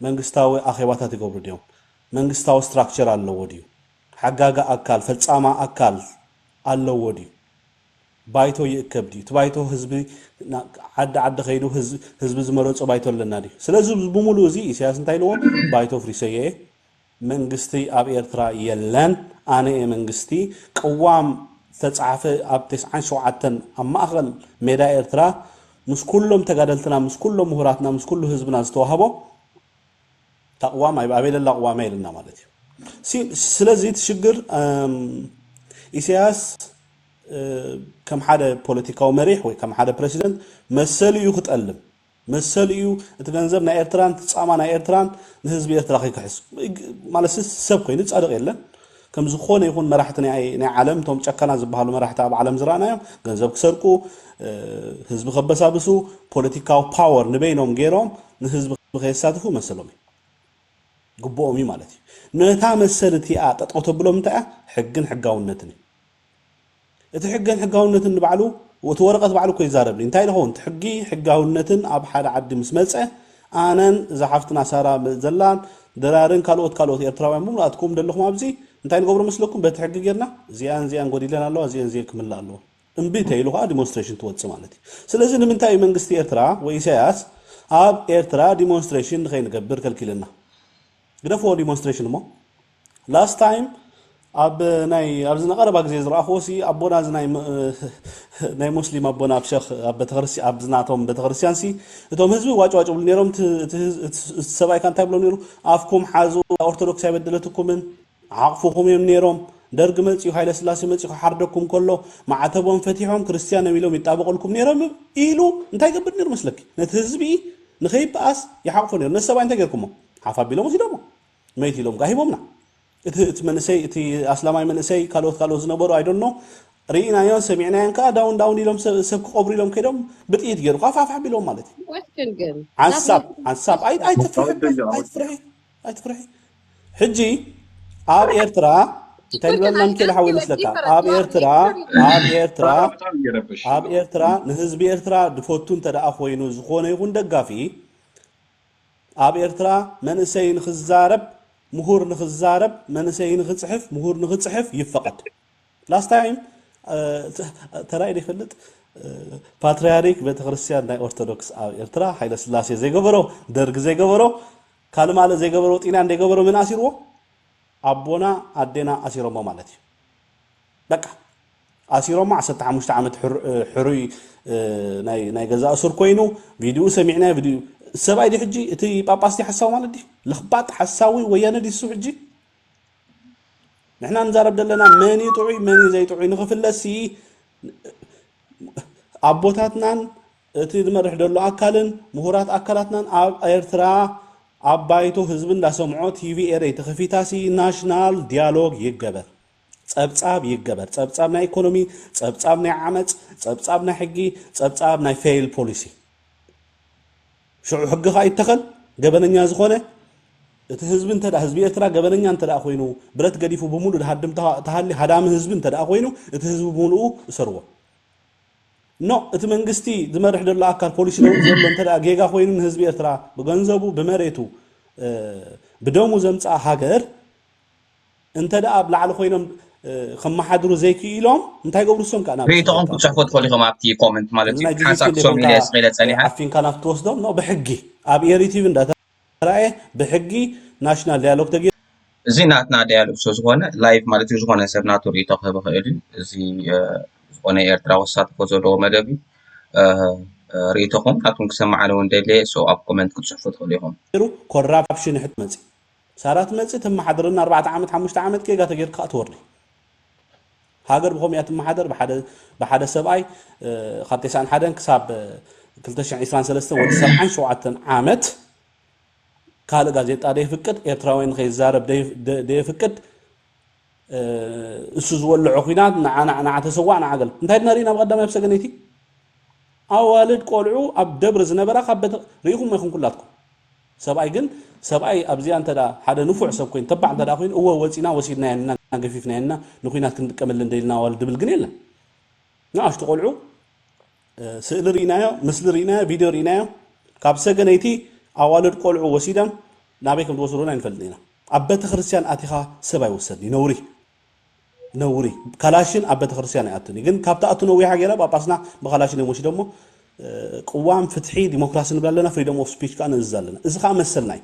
መንግስታዊ ኣኼባታት ይገብሩ ድዮም? መንግስታዊ ስትራክቸር ኣለዎ ድዩ? ሓጋጊ ኣካል፣ ፈጻማ ኣካል ኣለዎ ድዩ? ባይቶ ይእከብ ድዩ? እቲ ባይቶ ህዝቢ ዓዲ ዓዲ ከይዱ ህዝቢ ዝመረፆ ባይቶ ኣለና ድዩ? ስለዚ ብሙሉኡ እዚ ኢሳያስ እንታይ ኢልዎ ባይቶ ኣፍሪሰዮ እየ፣ መንግስቲ ኣብ ኤርትራ የለን፣ ኣነ እየ መንግስቲ፣ ቅዋም ዝተፅሓፈ ኣብ ተስዓን ሸውዓተን ኣብ ማእኸል ሜዳ ኤርትራ ምስ ኩሎም ተጋደልትና ምስ ኩሎም ምሁራትና ምስ ኩሉ ህዝብና ዝተዋህቦ እታ ቅዋም ኣብ ኣበይ ለላ ቅዋም እያ ኢልና ማለት እዩ ሲ- ስለዚ እቲ ሽግር እም፣ ኢሳያስ እ፣ ከም ሓደ ፖለቲካዊ መሪሕ ወይ ከም ሓደ ፕረሲደንት መሰሉ እዩ ክጠልም መሰሉ እዩ እቲ ገንዘብ ናይ ኤርትራን እቲ ጻማ ናይ ኤርትራን ንህዝቢ ኤርትራ ከይክሕስ ማለት ሰብ ኮይኑ ጻድቕ የለን ከም ዝኾነ ይኹን መራሕቲ ናይ ናይ ዓለም እቶም ጨካናት ዝበሃሉ መራሕቲ ኣብ ዓለም ዝረኣናዮም ገንዘብ ክሰርቁ ህዝቢ ከበሳብሱ ፖለቲካዊ ፓወር ንበይኖም ገይሮም ንህዝቢ ከየሳትፉ መሰሎም እዩ ግቡኦም እዩ ማለት እዩ ነታ መሰል እቲኣ ጠጠው ተብሎም እንታይ እያ ሕግን ሕጋውነትን እዩ እቲ ሕገን ሕጋውነትን ንባዕሉ እቲ ወረቀት ባዕሉ እኮ ይዛረብ እንታይ ንከውን እቲ ሕጊ ሕጋውነትን ኣብ ሓደ ዓዲ ምስ መጸ ኣነን እዛ ሓፍትና ሳራ ዘላን ድራርን ካልኦት ካልኦት ኤርትራውያን ብምሉእ ኣትክኡም ደለኩም ኣብዚ እንታይ ንገብሮ መስለኩም በቲ ሕጊ ጌርና እዚኣን እዚኣን ጎዲለን ኣለዋ እዚኤን እዚኤን ክምላኣ ኣለዎ እምቢ ተይሉ ከኣ ዲሞንስትሬሽን ትወጽእ ማለት እዩ ስለዚ ንምንታይ እዩ መንግስቲ ኤርትራ ወይ ኢሳያስ ኣብ ኤርትራ ዲሞንስትሬሽን ንከይንገብር ከልኪለና ግደፍዎ ዲሞንስትሬሽን እሞ Last time ኣብ ናይ ኣብዚ ንቀረባ ግዜ ዝረኣኽዎ ሲ ኣቦና እዚ ናይ ናይ ሙስሊም ኣቦና ኣብ ሸኽ ኣብ ቤተክርስትያን ኣብ ዝናቶም ቤተክርስትያን ሲ እቶም ህዝቢ ዋጭ ዋጭ ብሉ ነይሮም እቲ ሰብኣይ ካን እንታይ ብሎ ነይሩ ኣፍኩም ሓዙ ኦርቶዶክስ ኣይበደለትኩምን ዓቕፍኹም እዮም ነይሮም ደርግ መጽዩ ሃይለ ስላሴ መጽዩ ክሓርደኩም ከሎ ማዕተቦም ፈቲሖም ክርስትያን እዮም ኢሎም ይጣበቐልኩም ነይሮም ኢሉ እንታይ ይገብር ነይሩ መስለኪ ነቲ ህዝቢ ንኸይበኣስ ይሓቕፎ ነይሩ ነቲ ሰብኣይ እንታይ ጌርኩሞ ሓፍ ኣቢሎም ወሲዶሞ መይት ኢሎም ጋሂቦምና እቲ እቲ መንእሰይ እቲ ኣስላማይ መንእሰይ ካልኦት ካልኦት ዝነበሩ ኣይዶኖ ርኢናዮን ሰሚዕናዮን ከዓ ዳውን ዳውን ኢሎም ሰብ ክቀብሩ ኢሎም ከይዶም ብጥይት ገይሩ ፋፋፋ ቢሎም ማለት እዩ ዓንሳብ ዓንሳብ ኣይትፍርሒ ኣይትፍርሒ ሕጂ ኣብ ኤርትራ እንታይ ንበልና ንክእል ሓዊ መስለካ ኣብ ኤርትራ ኣብ ኤርትራ ኣብ ኤርትራ ንህዝቢ ኤርትራ ድፈቱ እንተደኣ ኮይኑ ዝኾነ ይኹን ደጋፊ ኣብ ኤርትራ መንእሰይ ንኽዛረብ ምሁር ንኽዛረብ መንእሰይ ንኽጽሕፍ ምሁር ንኽጽሕፍ ይፈቐድ ላስት ታይም ተራእዩ ዶ ይፈልጥ ፓትርያሪክ ቤተክርስትያን ናይ ኦርቶዶክስ ኣብ ኤርትራ ሓይለ ስላሴ ዘይገበሮ ደርግ ዘይገበሮ ካልእ ማለት ዘይገበሮ ጢልያን ዘይገበሮ መን ኣሲርዎ ኣቦና ኣዴና ኣሲሮሞ ማለት እዩ በቃ ኣሲሮሞ ዓሰርተ ሓሙሽተ ዓመት ሕሩይ ናይ ገዛ እሱር ኮይኑ ቪድኡ ሰሚዕናዮ ቪድኡ ሰብኣይ ዲ ሕጂ እቲ ጳጳስ ዲ ሓሳዊ ማለት ዲ ለኽባጥ ሓሳዊ ወያነ ዲሱ ሕጂ ንሕና ንዛረብ ዘለና መን እዩ ጥዑይ መን እዩ ዘይጥዑይ ንኽፍለሲ ኣቦታትናን እቲ ዝመርሕ ዘሎ ኣካልን ምሁራት ኣካላትናን ኣብ ኤርትራ ኣብ ባይቶ ህዝቢ እንዳሰምዖ ቲቪ ኤረይ ተኸፊታሲ ናሽናል ዲያሎግ ይገበር ጸብጻብ ይገበር፣ ጸብጻብ ናይ ኢኮኖሚ፣ ጸብጻብ ናይ ዓመጽ፣ ጸብጻብ ናይ ሕጊ፣ ጸብጻብ ናይ ፌይል ፖሊሲ። ሽዑ ሕጊ ከኣ ይተኸል፣ ገበነኛ ዝኾነ እቲ ህዝቢ እንተ ህዝቢ ኤርትራ ገበነኛ እንተ ኮይኑ ብረት ገዲፉ ብምሉእ ድሃድም ተሃሊ ሃዳሚ ህዝቢ እንተ ኮይኑ እቲ ህዝቢ ብምሉኡ እሰርዎ ኖ እቲ መንግስቲ ዝመርሕ ዘሎ ኣካል ፖሊሲ ለውጢ ዘሎ እንተ ጌጋ ኮይኑ ንህዝቢ ኤርትራ ብገንዘቡ ብመሬቱ ብደሙ ዘምፅኣ ሃገር እንተደኣ ኣብ ላዕሊ ኮይኖም ከመሓድሩ ዘይክኢሎም እንታይ ይገብሩ እሶም ከኣ ናብ ርእይቶኹም ክትጽሕፉ ትኽእሉ ኢኹም ኣብቲ ኮመንት ማለት እዩ ሓንሳብ ሶም ኢለ ስቂለ ጸኒሐ ዓፊንካ ናብ ትወስዶም ኖ ብሕጊ ኣብ ኤሪ ቲቪ እንዳተራእየ ብሕጊ ናሽናል ዳያሎግ ተገይሩ እዚ ናትና ዳያሎግ ስለ ዝኾነ ላይቭ ማለት እዩ ዝኾነ ሰብ ናቱ ርእይቶ ክህብ ይኽእል እዩ እዚ ዝኾነ ኤርትራ ወሳትፎ ዘለዎ መደብ እዩ ርእይቶኹም ናትኩም ክሰማዕ ኣለዎ እንደልየ ሰው ኣብ ኮመንት ክትፅሕፉ ትኽእሉ ኢኹም ኮራፕሽን ሕት መፅእ ሳራ ትመጽእ ተማሓድረና ኣርባዕተ ዓመት ሓሙሽተ ዓመት ጌጋ ተጌርካ ከኣ ትወርዲ ሃገር ብከምኡ እያ ትማሓደር ብሓደ ብሓደ ሰብኣይ ካብ ቴስዓን ሓደን ክሳብ ክልተ ሽሕን ዒስራን ሰለስተን ወዲ ሰብዓን ሸውዓተን ዓመት ካልእ ጋዜጣ ደየፍቅድ ኤርትራውያን ንከይዛረብ ደየፍቅድ እሱ ዝወልዖ ኩናት ንዓ ንዓ ንዓ ተሰዋእ ንዓ ገለ እንታይ ድና ርኢና ብቀዳማይ ኣብ ሰገነይቲ ኣዋልድ ቆልዑ ኣብ ደብሪ ዝነበራ ካብ ቤተ ርኢኹም ኢኹም ኩላትኩም ሰብኣይ ግን ሰብኣይ ኣብዚኣ እንተ ሓደ ንፉዕ ሰብ ኮይኑ ተባዕ እንተ ኮይኑ እወ ወፂና ወሲድናየን እና ገፊፍናየን እና ንኩናት ክንጥቀመለን ደልና ኣዋልድ ድብል ግን የለን ንኣሽቱ ቆልዑ ስእሊ ርኢናዮ፣ ምስሊ ርኢናዮ፣ ቪድዮ ርኢናዮ፣ ካብ ሰገነይቲ ኣዋልድ ቆልዑ ወሲዳም ናበይ ከም ዝወሰዱን ኣይንፈልጥን ኢና። ኣብ ቤተክርስትያን ኣቲኻ ሰብ ኣይውሰድን እዩ ነውሪ ነውሪ ካላሽን ኣብ ቤተክርስትያን ኣይኣትን እዩ። ግን ካብ ትኣቱ ነዊሓ ገይራ ጳጳስና ብካላሽን እዮም ወሲዶሞ። ቅዋም ፍትሒ ዲሞክራሲ ንብል ኣለና፣ ፍሪደም ኦፍ ስፒች ከዓ ንእዝዝ ኣለና። እዚ ከዓ መሰልና እዩ።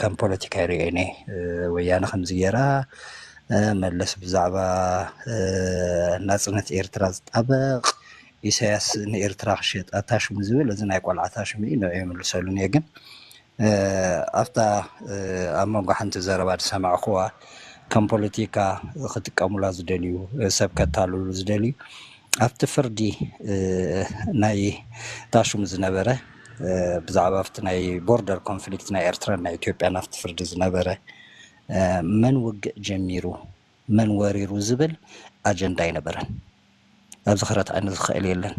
ከም ፖለቲካ ይሪኦ እየ ወያነ ከምዚ ገይራ መለስ ብዛዕባ ናፅነት ኤርትራ ዝጣበቅ ኢሳያስ ንኤርትራ ክሸጣ ታሽሙ ዝብል እዚ ናይ ቆልዓ ታሽሙ እዩ ንዑ ይምልሰሉን እየ ግን ኣብታ ኣብ መንጎ ሓንቲ ዘረባ ዝሰማዕኩዋ ከም ፖለቲካ ክጥቀሙላ ዝደልዩ ሰብ ከታልሉ ዝደልዩ ኣብቲ ፍርዲ ናይ ታሽሙ ዝነበረ ብዛዕባ ኣብቲ ናይ ቦርደር ኮንፍሊክት ናይ ኤርትራን ናይ ኢትዮጵያን ኣብቲ ፍርዲ ዝነበረ መን ውግእ ጀሚሩ መን ወሪሩ ዝብል ኣጀንዳ ኣይነበረን። ኣብዚ ክረትዓኒ ዝኸእል የለን።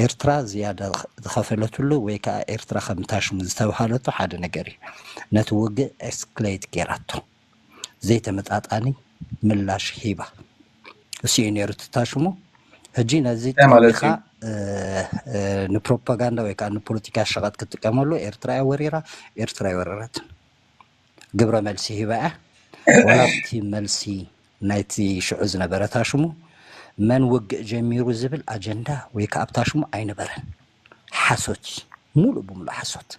ኤርትራ ዝያዳ ዝኸፈለትሉ ወይ ከኣ ኤርትራ ከም ታሽሙ ዝተብሃለቶ ሓደ ነገር እዩ። ነቲ ውግእ ኤስክሌት ጌራቶ። ዘይተመጣጣኒ ምላሽ ሂባ እሱ እዩ ነይሩ ትታሽሙ ሕጂ ነዚ እንታይ ማለት ጠሚኻ እዩ ንፕሮፓጋንዳ ወይ ከዓ ንፖለቲካ ሸቐጥ ክትጥቀመሉ ኤርትራ እያ ወሪራ ኤርትራ ኣይወረረትን ግብረ መልሲ ሂባ እያ ወላ ኣብቲ መልሲ ናይቲ ሽዑ ዝነበረ ታሽሙ መን ውግእ ጀሚሩ ዝብል ኣጀንዳ ወይ ከዓ ኣብ ታሽሙ ኣይነበረን ሓሶት እዩ ሙሉእ ብሙሉእ ሓሶት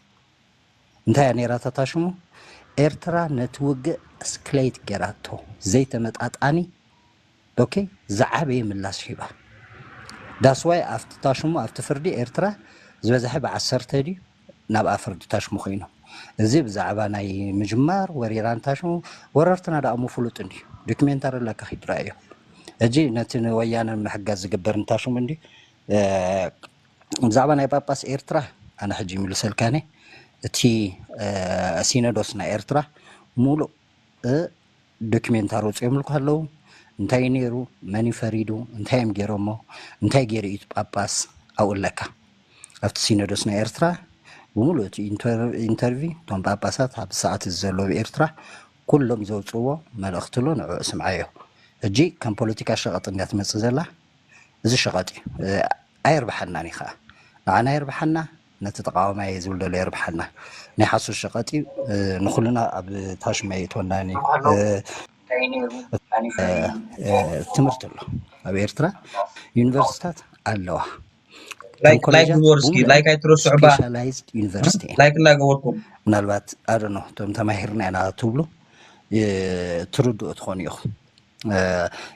እንታይ እያ ነይራ እታ ታሽሙ? ኤርትራ ነቲ ውግእ እስክለይት ገይራቶ ዘይተመጣጣኒ ኦኬ ዝዓበየ ምላሽ ሂባ ዳስዋይ ኣብቲ ታሽሙ ኣብቲ ፍርዲ ኤርትራ ዝበዝሐ ብዓሰርተ ድዩ ናብኣ ፍርዲ ታሽሙ ኮይኑ እዚ ብዛዕባ ናይ ምጅማር ወሪራን ታሽሙ ወረርትና ዳኣሞ ፍሉጥ እንድዩ ዶክሜንታሪ ኣለካ ኪድ ራኣዮ እጂ ነቲ ንወያነ ንምሕጋዝ ዝግበር ንታሽሙ እንድዩ ብዛዕባ ናይ ጳጳስ ኤርትራ ኣነ ሕጂ ይምልሰልካኒ እቲ ሲኖዶስ ናይ ኤርትራ ሙሉእ ዶኪሜንታሪ ወፂኦምልኩ ኣለዉ እንታይ እዩ ነይሩ መን እዩ ፈሪዱ እንታይ እዮም ገይሮሞ እንታይ ገይሩ እዩ ጳጳስ ኣብኡ ኣለካ ኣብቲ ሲኖዶስ ናይ ኤርትራ ብሙሉእ እቲ ኢንተርቪ እቶም ጳጳሳት ኣብ ሰዓት እዚ ዘለዉ ኤርትራ ኩሎም ዘውፅዎ መልእኽቲ ኣሎ ንዕኡ ስምዓዮ ሕጂ ከም ፖለቲካ ሸቐጥ እንዲያ ትመፅእ ዘላ እዚ ሸቐጥ እዩ ኣየርብሓናን እዩ ከኣ ንዓና የርብሓና ነቲ ተቃዋማይ እየ ዝብል ዘሎ የርብሓና ናይ ሓሶት ሸቐጥ እዩ ንኩልና ኣብ ታሽማ የእትወናን እዩ ትምህርቲ ኣሎ ኣብ ኤርትራ ዩኒቨርሲታት ኣለዋ ስፔሻላይዝድ ዩኒቨርሲቲ ምናልባት ኣደኖ እቶም ተማሂርና ኢና ትብሉ ትርድኡ ትኾኑ ኢኹም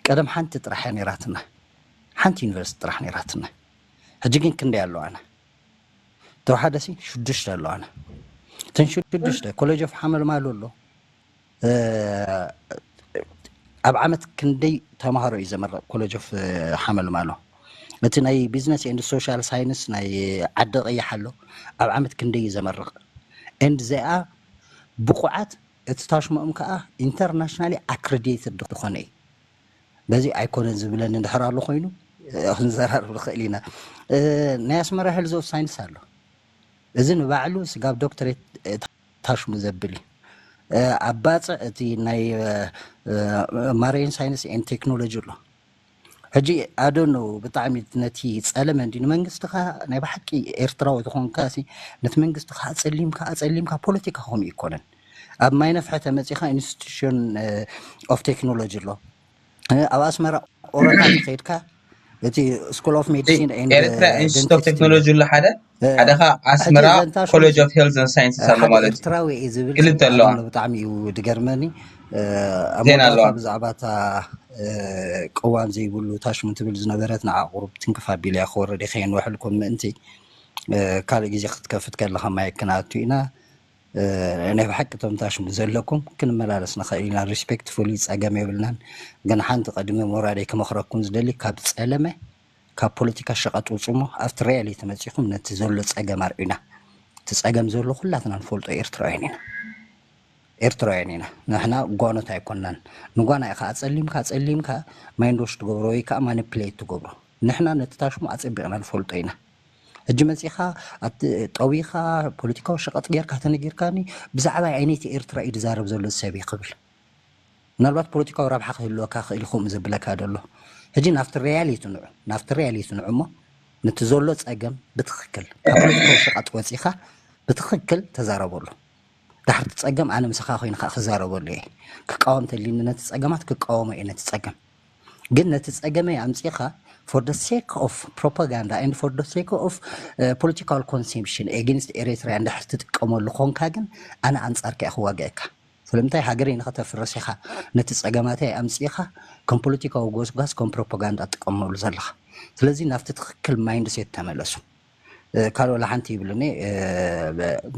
ቀደም ሓንቲ ጥራሕ እያ ነይራትና ሓንቲ ዩኒቨርሲቲ ጥራሕ ነይራትና ሕጂ ግን ክንደይ ኣለዋና ተወሓደ ሲ ሽዱሽተ ኣለዋና እተን ሽዱሽተ ኮሌጅ ኦፍ ሓመልማሉ ኣሎ ኣብ ዓመት ክንደይ ተምሃሮ እዩ ዘመረቕ ኮሌጅ ኦፍ ሓመልማሎ እቲ ናይ ቢዝነስ ኤንድ ሶሻል ሳይንስ ናይ ዓዲ ቀይሕ ኣሎ ኣብ ዓመት ክንደይ እዩ ዘመርቕ ኤንድ ዚኣ ብቑዓት እቲ ታሽሙኦም ከኣ ኢንተርናሽናሊ ኣክረዲየትድ ዝኾነ እዩ። በዚ ኣይኮነን ዝብለኒ እንድሕር ኣሎ ኮይኑ ክንዘራረብ ንኽእል ኢና። ናይ ኣስመራ ሄልዝ ኦፍ ሳይንስ ኣሎ። እዚ ንባዕሉ ስጋብ ዶክተሬት ታሽሙ ዘብል እዩ። ኣብ ባጽዕ እቲ ናይ ማሬን ሳይንስ ኤን ቴክኖሎጂ ኣሎ። ሕጂ ኣዶኖ ብጣዕሚ ነቲ ጸለመ እንዲ ንመንግስትኻ ናይ ብሓቂ ኤርትራዊ ዝኾንካ ሲ ነቲ መንግስትኻ ኣጸሊምካ ኣጸሊምካ ፖለቲካ ከምኡ ይኮነን ኣብ ማይ ነፍሐ ተመጺኻ ኢንስቲትዩሽን ኦፍ ቴክኖሎጂ ኣሎ እ፣ ኣብ ኣስመራ ኦረታ ተኸይድካ እቲ ስኩል ኦፍ እቲ ሜዲሲን ኤንድ ኤርትራ ኢንስቲትዩት ኦፍ ደንቲስት ቴክኖሎጂ ኣሎ ሓደ ሓደ ከኣ ኣስመራ ኮለጅ ኦፍ ሄልዝ ን ሳይንስስ ኣሎ ማለት እዩ ክልተ ኣለዋ ብጣዕሚ እዩ ድገርመኒ ዜና ኣለዋ ብዛዕባ እታ ቅዋም ዘይብሉ ታሽሙ ትብል ዝነበረት ንዓ ቁሩብ ትንክፍ ኣቢለ እያ ክወርድ ከየንውሐልኩም ምእንቲ ካልእ ግዜ ክትከፍት ከለካ ማይ ክንኣቱ ኢና ናይ ብሓቂ እቶም ታሽሙ ዘለኩም ክንመላለስ ንኽእል ኢና ሪስፔክትፉሊ ፀገም የብልናን ግን ሓንቲ ቀድሚ ሞራደይ ክመክረኩም ዝደሊ ካብ ፀለመ ካብ ፖለቲካ ሸቀጥ ውጹሞ ኣብቲ ሪያሊቲ መጺኹም ነቲ ዘሎ ጸገም ኣርእዩና እቲ ጸገም ዘሎ ኩላትና ንፈልጦ ኤርትራውያን ኢና ኤርትራውያን ኢና ንሕና ጓኖት ኣይኮናን ንጓና ኢኻ ኣጸሊምካ ኣጸሊምካ ማይንዶሽ ትገብሮ ወይ ከኣ ማኒፕሌት ትገብሮ ንሕና ነቲ ታሽሙ ኣጸቢቕና ንፈልጦ ኢና ሕጂ መጺኻ ኣቲ ጠዊኻ ፖለቲካዊ ሸቐጥ ጌርካ ተነጊርካኒ ብዛዕባ ኣይነይቲ ኤርትራ እዩ ዝዛረብ ዘሎ ዝሰብ ክብል ምናልባት ፖለቲካዊ ረብሓ ክህልወካ ይኽእል እዩ ከምኡ ዘብለካ ዘሎ ሕጂ ናብቲ ሪያሊቲ ንዑ ናብቲ ሪያሊቲ ንዑ እሞ ንቲ ዘሎ ጸገም ብትኽክል ካብ ፖለቲካዊ ሸቓጥ ወጺኻ ብትኽክል ተዛረበሉ ዳሕርቲ ጸገም ኣነ ምሳኻ ኮይነ ከኣ ክዛረበሉ እየ ክቃወም ተልዩኒ ነቲ ጸገማት ክቃወሞ እየ ነቲ ጸገም ግን ነቲ ጸገመይ ኣምጺኻ for the sake of propaganda and for the sake of uh, political consumption against Eritrea እንድሕር ትጥቀመሉ ኮንካ ግን ኣነ ኣንጻርካ እየ ክዋግኣካ ስለምንታይ ሃገረይ ንኸተፍርስ ኢኻ ነቲ ጸገማተይ ኣምጺእኻ ከም ፖለቲካዊ ጎስጓስ ከም ፕሮፖጋንዳ ትጥቀመሉ ዘለኻ ስለዚ ናብቲ ትኽክል ማይንድ ሴት ተመለሱ ካልእ ወላ ሓንቲ ይብሉኒ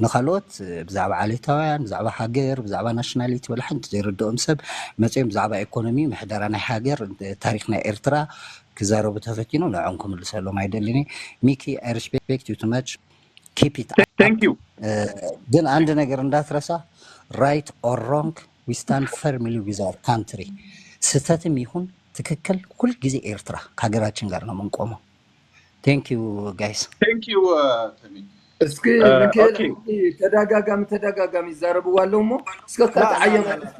ንኻልኦት ብዛዕባ ዓሌታውያን ብዛዕባ ሃገር ብዛዕባ ናሽናሊቲ ወላ ሓንቲ ዘይርድኦም ሰብ መጺኦም ብዛዕባ ኢኮኖሚ ምሕደራ ናይ ሃገር ታሪክ ናይ ኤርትራ ክዛረቡ ተፈቲኖም ንዕኦም ክምልሰሎም ኣይደልን እየ ሚኪ ኣይ ሪስፔክት ዩ ቱ ማች ኪፕ ኢት ኣፕ Thank you. ግን አንድ ነገር እንዳትረሳ ራይት ኦር ሮንግ ዊ ስታንድ ፈርምሊ ዊዝ አወር ካንትሪ ስህተትም ይሁን ትክክል ሁልጊዜ ኤርትራ ከሀገራችን ጋር ነው የምንቆመው ቴንክ ዩ ጋይስ Thank you, uh, Temi. እስኪ Uh, ሚካኤል okay. ሕጂ ተደጋጋሚ ተደጋጋሚ ይዛረብዋ ኣለዉ እሞ እስከ እታ ላ ላ ላ ተዓየባ ላ እስኪ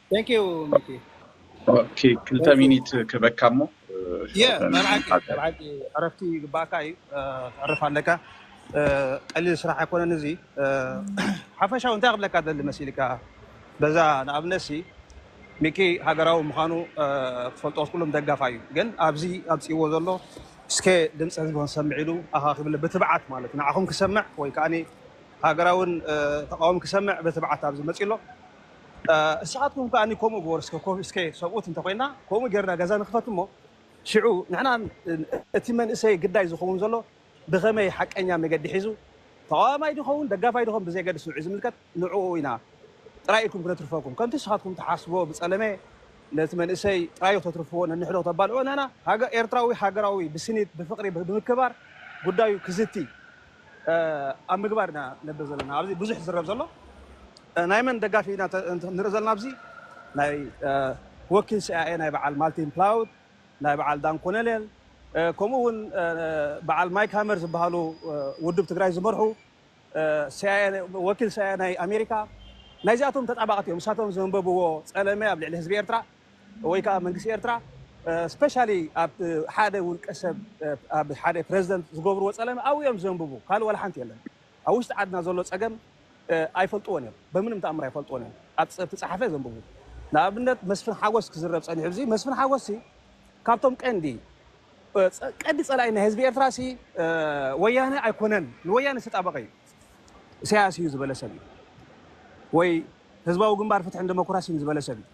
Thank you ሚኪ ኦኬ ክልተ Thank you ሚኒት ክበካ እሞ የ ሸውዓተ መብዓቂ እዩ ንሓፀር መብዓቂ እዩ ዕረፍቲ ይግባእካ እዩ እ፣ ክትዕርፍ ኣለካ እ፣ ቀሊል ስራሕ ኣይኮነን እዚ እ፣ ሓፈሻዊ እንታይ ክብለካ ደሊ መሲልካ በዛ ንኣብነት ሲ ሚኪ ሃገራዊ ምዃኑ እ፣ ክትፈልጦ ክትኩሎም ደጋፋ እዩ ግን ኣብዚ ኣምፅእዎ ዘሎ እስከ ድምፂ ህዝቢ ክንሰምዕ ኢሉ ኣኻኺብለ ብትብዓት ማለት ንዓኹም ክሰምዕ ወይ ከዓ ሃገራውን እ፣ ተቃዋሚ ክሰምዕ ብትብዓት ኣብዚ መፂ ኣሎ እስኻትኩም ከኣ ከምኡ ግበሩ እስከ ኮፍ እስከ ሰብኡት እንተ ኮይና ከምኡ ጌርና ገዛ ንክፈት እሞ ሽዑ ንሕና እቲ መንእሰይ ግዳይ ዝኸውን ዘሎ ብኸመይ ሓቀኛ መገዲ ሒዙ ተቓዋማይ ድኸውን ደጋፋይ ድኾን ብዘየገድስ ንዑ ዝምልከት ንዕኡ ኢና ጥራይ ኢልኩም ክነትርፈኩም ከምቲ እስኻትኩም ትሓስብዎ ብጸለመ ነቲ መንእሰይ ጥራዩ ክተትርፍዎ ነንሕዶ ክተባልዑ ኣናና ኤርትራዊ ሃገራዊ ብስኒት ብፍቕሪ ብምክባር ጉዳዩ ክዝቲ ኣብ ምግባር ኢና ነብር ዘለና ኣብዚ ብዙሕ ዝዝረብ ዘሎ ናይ መን ደጋፊ ኢና ንርኢ ዘለና ኣብዚ ናይ ወኪል ሲኣይኤ ናይ በዓል ማልቲን ፕላውድ ናይ በዓል ዳን ኮነሌል ከምኡ ውን በዓል ማይክ ሃመር ዝበሃሉ ውድብ ትግራይ ዝመርሑ ወኪል ሲኣይኤ ናይ ኣሜሪካ ናይዚኣቶም ተጣባቕቲ እዮም እሳቶም ዘንበብዎ ጸለመ ኣብ ልዕሊ ህዝቢ ኤርትራ ወይ ከኣ መንግስቲ ኤርትራ ስፐሻሊ ኣብ ሓደ ውልቀ ሰብ ኣብ ሓደ ፕረዚደንት ዝገብርዎ ጸለመ ኣብኡ እዮም ዘንብቡ ካልእ ዋላ ሓንቲ የለን ኣብ ውሽጢ ዓድና ዘሎ ጸገም ኣይፈልጥዎን እዮም በምንም ተኣምር ኣይፈልጥዎን እዮም ኣብ ዝተጻሓፈ ዘንብቡ ንኣብነት መስፍን ሓጎስ ክዝረብ ጸኒሑ እዚ መስፍን ሓጎስ ሲ ካብቶም ቀንዲ ቀዲ ጸላኢ ናይ ህዝቢ ኤርትራ ሲ ወያነ ኣይኮነን ንወያነ ዝተጣበቀ እዩ ኢሳያስ እዩ ዝበለ ሰብ እዩ ወይ ህዝባዊ ግንባር ፍትሕን ደሞክራሲን ዝበለ ሰብ እዩ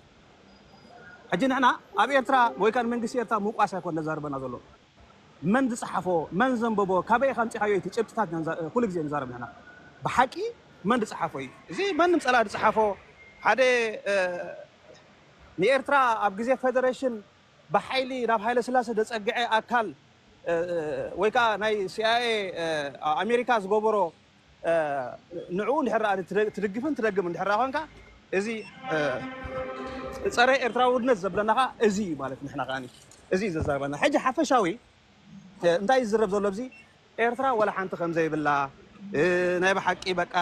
ሕጂ ንሕና ኣብ ኤርትራ ወይ ከኣ ንመንግስቲ ኤርትራ ምውቃስ ኣይኮን ዘዛርበና ዘሎ። መን ዝጸሓፎ መን ዘንበቦ ካበይ ኢኻ ኣምጺኻዮ እቲ ጭብጥታት ኢና ንዛ ኩሉ ግዜ ንዛረብ ንሕና። ብሓቂ መን ዝጸሓፎ እዩ። እዚ ማንም ጸላኢ ዝጸሓፎ ሓደ ንኤርትራ ኣብ ግዜ ፈደረሽን ብሓይሊ ናብ ሃይለስላሰ ዘጸግዐ ኣካል ወይ ከኣ ናይ ሲኣይኤ ኣሜሪካ ዝገበሮ ንዕኡ እንድሕር ደኣ ትድግፍን ትደግምን እንድሕር ደኣ ኮንካ እዚ ጸረ ኤርትራውነት ዘብለና ከኣ እዚ እዩ ማለት ንሕና ከኣ እዚ እዩ ዘዛርበና ሕጂ ሓፈሻዊ እንታይ ዝዝረብ ዘሎ ኣብዚ ኤርትራ ወላ ሓንቲ ከም ዘይብላ ናይ ብሓቂ በቃ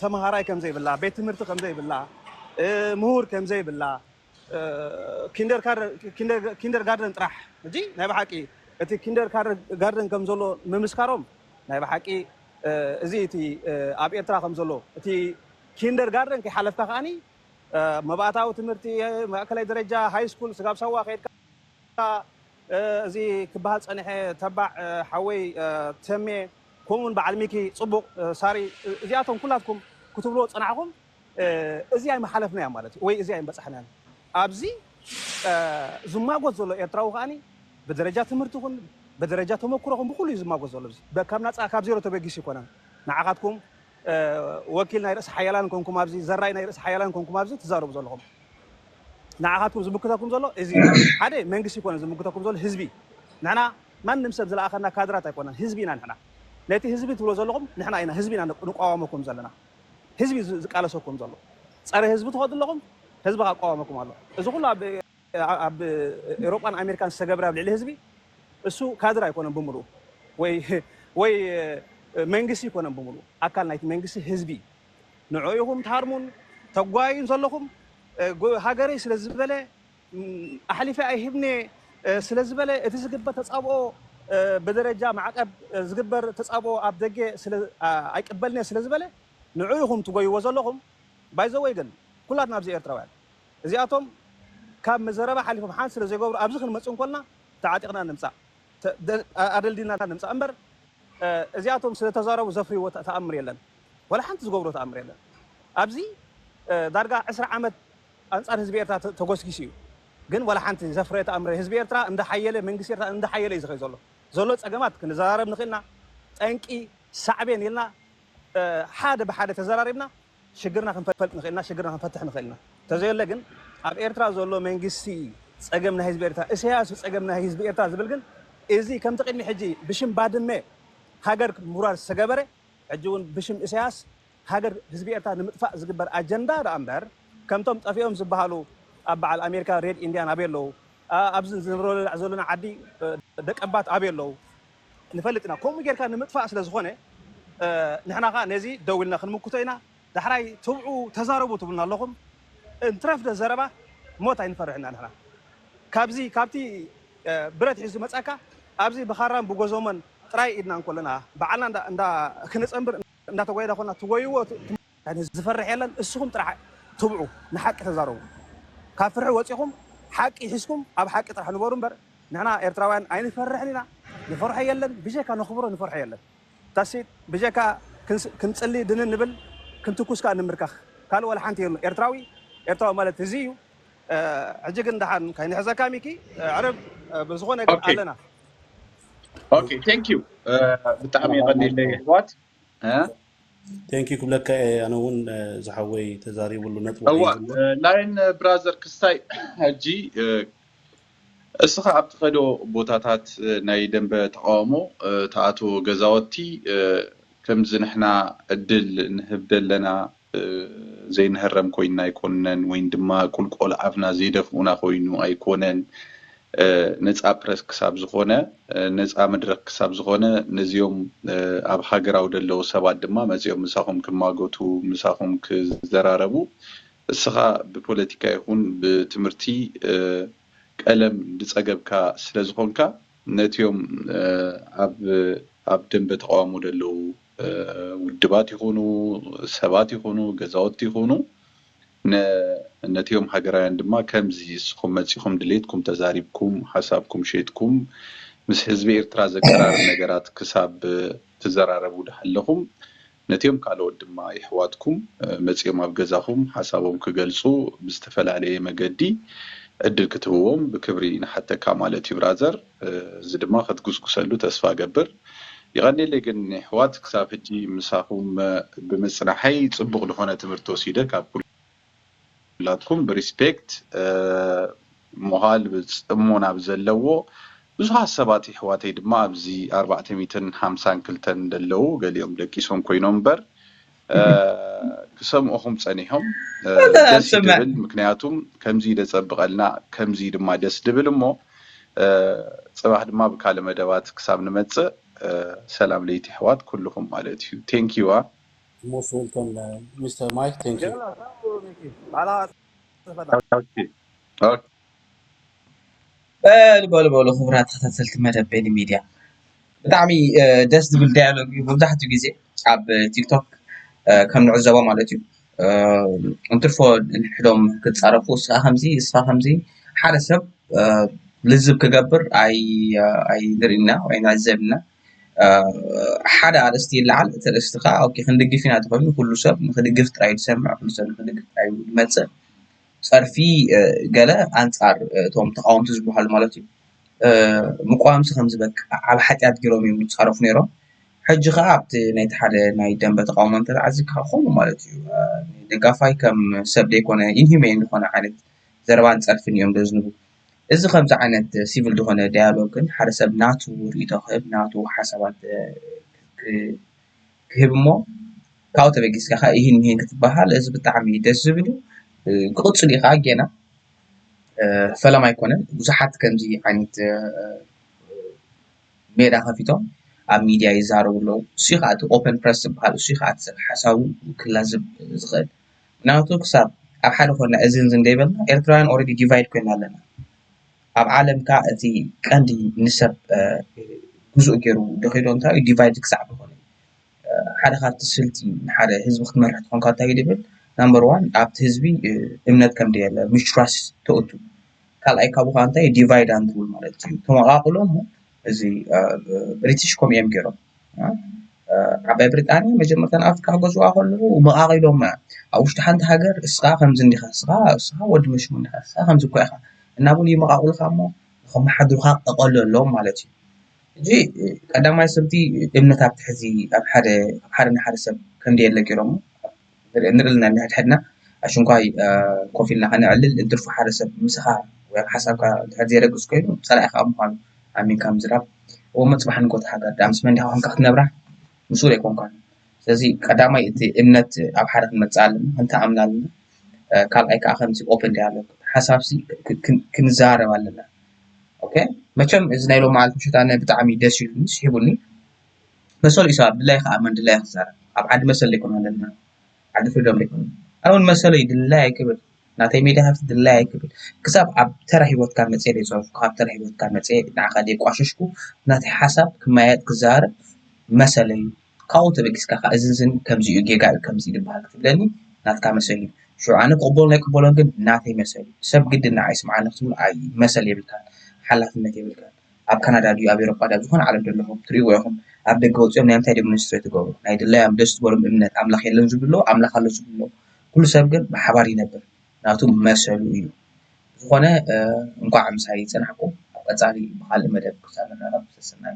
ተማሃራይ ከም ዘይብላ ቤት ትምህርቲ ከም ዘይብላ ምሁር ከም ዘይብላ ኪንደር ጋርደን ጥራሕ ሕጂ ናይ ብሓቂ እቲ ኪንደር ጋርደን ከም ዘሎ ምምስካሮም ናይ ብሓቂ እዚ እቲ ኣብ ኤርትራ ከም ዘሎ እቲ ኪንደር ጋርደን ከይሓለፍካ ከኣኒ መባእታዊ ትምህርቲ ማእከላይ ደረጃ ሃይ ስኩል ስጋብ ሳዋ ከይድካ እዚ ክበሃል ጸኒሐ ተባዕ ሓወይ ተሜ ከምኡውን በዓል ሚኪ ጽቡቕ ሳሪ እዚኣቶም ኩላትኩም ክትብልዎ ዝጸናሕኩም እዚ ኣይምሓለፍናዮን ማለት እዩ ወይ እዚ ኣይምበጻሕናዮን። ኣብዚ ዝማጎት ዘሎ ኤርትራዊ ከኣ ብደረጃ ትምህርቲ ይኹን ብደረጃ ተመኩሮ ይኹን ብኹሉ እዩ ዝማጎት ዘሎ። እዚ ካብ ናጻ ካብ ዜሮ ተበጊሱ ኣይኮነን። ንዓኻትኩም ወኪል ናይ ርእሰ ሓያላን ኮንኩም ኣብዚ ዘራይ ናይ ርእሰ ሓያላን ኮንኩም ኣብዚ ትዛረቡ ዘለኹም ንዓኻትኩም ዝምክተኩም ዘሎ እዚ እዩ። ሓደ መንግስቲ ኣይኮነን ዝምክተኩም ዘሎ ህዝቢ እዩ። ንሕና ማንም ሰብ ዝለኣኸና ካድራት ኣይኮናን ህዝቢ ኢና ንሕና። ነቲ ህዝቢ ትብሎ ዘለኹም ንሕና ኢና ህዝቢ ኢና ንቋወመኩም ዘለና። ህዝቢ እዩ ዝቃለሰኩም ዘሎ ፀረ ህዝቢ ትኸዱ ኣለኹም ህዝቢ ካዓ ይቋወመኩም ኣሎ እዚ ኩሉ ኣብ ኣብ ኤሮጳን ኣሜሪካን ዝተገብረ ኣብ ልዕሊ ህዝቢ እሱ ካድር ኣይኮነን ብምሉኡ ወይ ወይ መንግስቲ ኣይኮነን ብምሉኡ ኣካል ናይቲ መንግስቲ ህዝቢ እዩ ንዑኡ ኢኹም ትሃርሙን ተጓዩን ዘለኹም ሃገረይ ስለ ዝበለ ኣሕሊፈ ኣይህብን'የ ስለ ዝበለ እቲ ዝግበር ተጻብኦ ብደረጃ ማዕቀብ ዝግበር ተጻብኦ ኣብ ደገ ስለ ኣይቅበልን'የ ስለ ዝበለ ንዑ ኢኹም ትጎይዎ ዘለኹም ባይዘወይ ግን ኩላትና ኣብዚ ኤርትራውያን እዚኣቶም ካብ ዘረባ ሓሊፎም ሓንቲ ስለ ዘይገብሩ ኣብዚ ክንመጽእ እንኮልና ተዓጢቅና ንምጻእ ኣደልዲልና ንምጻእ እምበር እዚኣቶም ስለ ተዛረቡ ዘፍርይዎ ተኣምር የለን ወላ ሓንቲ ዝገብርዎ ተኣምር የለን ኣብዚ ዳርጋ ዕስራ ዓመት ኣንጻር ህዝቢ ኤርትራ ተጎስጊሱ እዩ ግን ዋላ ሓንቲ ዘፍረየ ተኣምር ህዝቢ ኤርትራ እንዳ ሓየለ መንግስቲ ኤርትራ እንዳ ሓየለ እዩ ዝኸይድ ዘሎ ዘሎ ጸገማት ክንዘራረብ ንኽእል ኢና ጠንቂ ሳዕቤን ኢልና ሓደ ብሓደ ተዘራሪብና ሽግርና ክንፈልጥ ንኽእል ኢና ሽግርና ክንፈትሕ ንኽእል ኢና ተዘየለ ግን ኣብ ኤርትራ ዘሎ መንግስቲ ጸገም ናይ ህዝቢ ኤርትራ እሰያስ እዩ ጸገም ናይ ህዝቢ ኤርትራ ዝብል ግን እዚ ከምቲ ቅድሚ ሕጂ ብሽም ባድመ ሃገር ምውራር ዝተገበረ ሕጂ እውን ብሽም እሰያስ ሃገር ህዝቢ ኤርትራ ንምጥፋእ ዝግበር ኣጀንዳ ደኣ እምበር ከምቶም ጠፊኦም ዝብሃሉ ኣብ በዓል ኣሜሪካ ሬድ ኢንድያን ኣበይ ኣለዉ ኣብዚ ዝንብረላ ዘሎና ዓዲ ደቀባት ኣበይ ኣለዉ ንፈልጥ ኢና ከምኡ ጌርካ ንምጥፋእ ስለ ዝኾነ ንሕና ከኣ ነዚ ደው ኢልና ክንምክቶ ኢና ዳሕራይ ትብዑ ተዛረቡ ትብሉና ኣለኹም እንትረፍ ዶ ዘረባ ሞት ኣይንፈርሕን ኢና ንሕና ካብዚ ካብቲ ብረት ሒዙ ዝመጻካ ኣብዚ ብኻራን ብጎዞሞን ጥራይ ኢድና እንኮለና በዓልና እንዳ ክነጸንብር እንዳተጎየዳ ኮና ትጎይዎ እቲ። ዝፈርሕ የለን እስኹም ጥራሕ ትብዑ ንሓቂ ተዛረቡ ካብ ፍርሒ ወጺኹም ሓቂ ሒዝኩም ኣብ ሓቂ ጥራሕ ንበሩ እምበር ንሕና ኤርትራውያን ኣይንፈርሕን ኢና ንፈርሖ የለን ብጀካ ነኽብሮ ንፈርሖ የለን that's it ብጀካ ክንጽሊ ድንን ንብል ክንትኩስ ከኣ ንምርካኽ ካልእ ዋላ ሓንቲ የሉን ኤርትራዊ ኤርትራዊ ማለት እዚ እዩ ሕጂ ግን ደሓን ከይንሕዘካ ሚኪ ኣዕርብ ብዝኾነ ግን ኦኬ ኣለና ኦኬ ቴንክ ዩ ብጣዕሚ የቐኒለይ የሕዋት እ ቴንኪ ክብለካ እየ ኣነ እውን ዝሓወይ ተዛሪብሉ ነጥቢ እዋ ከይዝሎ ላይን ብራዘር ክስታይ ሕጂ እ፣ እስኻ ኣብ ትኸዶ ቦታታት እ፣ ናይ ደንበ ተቓውሞ እ፣ ትኣትዎ ገዛወቲ እ፣ ከምዚ ንሕና ዕድል ንህብ ደለና ዘይንህረም ኮይንና ኣይኮንነን ወይን ድማ ቁልቆል ኣፍና ዘይደፍኡና ኮይኑ ኣይኮነን ነጻ ፕረስ ክሳብ ዝኾነ ነጻ መድረኽ ክሳብ ዝኾነ ነዚኦም ኣብ ሃገራዊ ደለዉ ሰባት ድማ መጺኦም ምሳኹም ክማጎቱ ምሳኹም ክዘራረቡ እስኻ ብፖለቲካ ይኹን ብትምህርቲ ቀለም ድጸገብካ ስለ ዝኾንካ ነቲኦም ኣብ ኣብ ደንበ ተቃዋሞ ደለዉ ውድባት ይኹኑ ሰባት ይኹኑ ገዛውቲ ይኹኑ ነቲኦም ሃገራውያን ድማ ከምዚ እስኹም መጺኹም ድሌትኩም ተዛሪብኩም ሓሳብኩም ሸይጥኩም ምስ ህዝቢ ኤርትራ ዘቀራርብ ነገራት ክሳብ ትዘራረቡ ድሃለኹም ነቲኦም ካልኦት ድማ የሕዋትኩም መጺኦም ኣብ ገዛኹም ሓሳቦም ክገልጹ ብዝተፈላለየ መገዲ ዕድል ክትህብዎም ብክብሪ ንሓተካ ማለት እዩ ብራዘር። እዚ ድማ ክትጉስጉሰሉ ተስፋ እገብር። የቀኔለይ ግን የሕዋት ክሳብ ሕጂ ምሳኩም ብምጽናሐይ ጽቡቅ ልኮነ ትምህርቲ ወሲደ ካብ ኩላትኩም ብሪስፔክት ሞሃል ብጽሞና ብዘለዎ ብዙሓት ሰባት የሕዋተይ ድማ ኣብዚ ኣርባዕተ ሚእትን ሓምሳን ክልተን ደለዉ ገሊኦም ደቂሶም ኮይኖም እምበር ክሰምኡኹም ጸኒሖም ደስ ይድብል ምክንያቱም ከምዚ ደጸብቐልና ከምዚ ድማ ደስ ድብል እሞ ጽባሕ ድማ ብካልእ መደባት ክሳብ ንመጽእ ሰላም ለይቲ ኣሕዋት ኩልኹም ማለት እዩ ቴንኪዋ ሞስት ዌልኮም ሚስተር ማይክ ቴንኪው። በሉ በሉ በሉ ክቡራት ተኸታተልቲ መደብ ቤኒ ሚድያ ብጣዕሚ ደስ ዝብል ዳያሎግ እዩ መብዛሕትኡ ግዜ ኣብ ቲክቶክ ከም ንዕዘቦ ማለት እዩ እንትርፎ ንሕዶም ክፃረፉ እስኻ ከምዚ እስኻ ከምዚ ሓደ ሰብ ልዝብ ክገብር ኣይንሪእን ኢና ወይ ንዕዘብ ኢና ሓደ ኣርእስቲ ይለዓል እቲ ኣርእስቲ ከዓ ክንድግፍ ኢና ተኾይኑ ኩሉ ሰብ ንኽድግፍ ጥራይ እዩ ዝሰምዕ ኩሉ ሰብ ንኽድግፍ ጥራይ እዩ ዝመፅእ ጸርፊ ገለ ኣንጻር እቶም ተቓወምቲ ዝበሃሉ ማለት እዩ ምቋምሲ ከም ዝበቅዕ ዓብ ሓጢኣት ገሮም እዮም ዝጻረፉ ነይሮም ሕጂ ኸዓ ኣብቲ ናይቲ ሓደ ናይ ደንበ ተቃውሞ እንተተዓዚብካ ከምኡ ማለት እዩ ደጋፋይ ከም ሰብ ዘይኮነ ኢንሁሜን ዝኾነ ዓይነት ዘረባን ጸርፍን እዮም ዘዝንቡ እዚ ከምዚ ዓይነት ሲቪል ዝኾነ ዳያሎግን ሓደ ሰብ ናቱ ርእይቶ ክህብ ናቱ ሓሳባት ክህብ እሞ ካብኡ ተበጊስካ ከኣ ኢሂን ምሂን ክትበሃል እዚ ብጣዕሚ እዩ ደስ ዝብል ክቅጽል እዩ ከኣ ጌና ፈለማ ኣይኮነን ብዙሓት ከምዚ ዓይነት ሜዳ ከፊቶም ኣብ ሚድያ ይዛረቡ ኣለዉ ንሱ እዩ ከኣ እቲ ኦፐን ፕረስ ዝብሃል ንሱ እዩ ከኣ እቲ ሓሳቡ ክላዝብ ዝክእል ምክንያቱ ክሳብ ኣብ ሓደ ኮይንና እዝን እዝን እንተይበልና ኤርትራውያን ኦረዲ ዲቫይድ ኮይና ኣለና። ኣብ ዓለም ከኣ እቲ ቀንዲ ንሰብ ግዙእ ጌሩ ደኺሎ እንታይ እዩ ዲቫይድ ክሳዕ ዝኾነ እዩ። ሓደ ካብቲ ስልቲ ንሓደ ህዝቢ ክትመርሕ ተኾንካ እንታይ እዩ ድብል ናምበር ዋን ኣብቲ ህዝቢ እምነት ከም ደየለ ምስትራስ ተእቱ ካልኣይ ካብኡ ከኣ እንታይ እዩ ዲቫይድ ኣንድ ሩል ማለት እዩ ተመቓቕሎ እሞ እዚ ብሪትሽ ከምኡ እዮም ገይሮም ዓባይ ብሪጣንያ መጀመርታ ንኣፍሪቃ ክገዝእዋ ከለዉ መቓቒሎማ እዮም ኣብ ውሽጢ ሓንቲ ሃገር እስኻ ከምዚ እንዲኻ እስኻ እስኻ ወዲ መሽሙ እንዲኻ እስኻ ከምዚ እኳ ኢኻ እናበሉ ይመቓቕሉኻ እሞ ንኸመሓድሩኻ እቐሉ ኣለዎም ማለት እዩ ሕጂ ቀዳማይ ሰብ'ቲ እምነት ኣብ ትሕዚ ኣብ ሓደ ሓደ ንሓደ ሰብ ከምዘየለ ገይሮሞ ንርኢ ኣለና ነሕድሕድና ኣሽንኳይ ኮፍ ኢልና ከነዕልል እንትርፎ ሓደ ሰብ ምሳኻ ወይ ሓሳብካ እንድሕር ዘይረግጽ ኮይኑ ጸላኢኻ ኣብ ምዃኑ ኣሚንካ ምዝራብ እሞ ጽባሕ ንግሆ እታ ሃገር ድኣ ምስ መን ዲኻ ኮንካ ክትነብራ ምስኡር ኣይኮንካን ስለዚ ቀዳማይ እቲ እምነት ኣብ ሓደ ክንመጽእ ኣለና ክንተኣምና ኣለና ካልኣይ ከዓ ከምዚ ኦፕን ዳያሎግ ሓሳብሲ ክንዘራረብ ኣለና ኦኬ መቸም እዚ ናይ ሎሚ መዓልቲ ምሸት ኣነ ብጣዕሚ ደስ ኢሉኒ ስሒቡኒ መሰሉ እዩ ሰብ ኣብ ድላዩ ክኣምን ኣብ ድላዩ ክዛረብ ኣብ ዓዲ መሰል ዶ ኣይኮነን ዘለና ዓዲ ፍሪዶም ዶ ኣይኮነን ኣነ ዉን መሰሉ እዩ ድላዩ ክብል ናተይ ሜድያ ሃፍቲ ድላዩ ክብል ክሳብ ኣብ ተራ ሂወትካ መጽየ ዘይጸረፍኩ ኣብ ተራ ሂወትካ መጽየ ንዓካ ዘየቋሸሽኩ ናተይ ሓሳብ ክመያየጥ ክዛረብ መሰለይ እዩ ካብኡ ተበጊስካ ከኣ እዚ እዚ ከምዚ እዩ ጌጋ እዩ ከምዚ እዩ ዝባሃል ክትብለኒ ናትካ መሰል እዩ ሽዑ ኣነ ክቅበሎን ኣይክቅበሎን ግን ናተይ መሰል እዩ ሰብ ግድን ንዓይ ይስምዓኒ ክትብሎ መሰል የብልካን ሓላፍነት የብልካን። ኣብ ካናዳ ድዩ ኣብ ኤሮጳ ድዩ ኣብ ዝኾነ ዓለም ዘለኹም ትርእይዎ ኢኹም ኣብ ደገ ወጺኦም ናይ ምንታይ demonstrate ዝገብሩ ናይ ድላዮም ደስ ዝበሎም እምነት ኣምላኽ የለን ዝብሉ ኣለዉ ኣምላኽ ኣሎ ዝብሉ ኣለዉ ኩሉ ሰብ ግን ብሓባር ይነብር ናቱ መሰሉ እዩ ዝኾነ እንኳዕ ምሳይ ጸናሕኩም ኣብ ቀጻሊ ብኻልእ መደብ ክሳብ ንራኸብ ሰሰናዩ።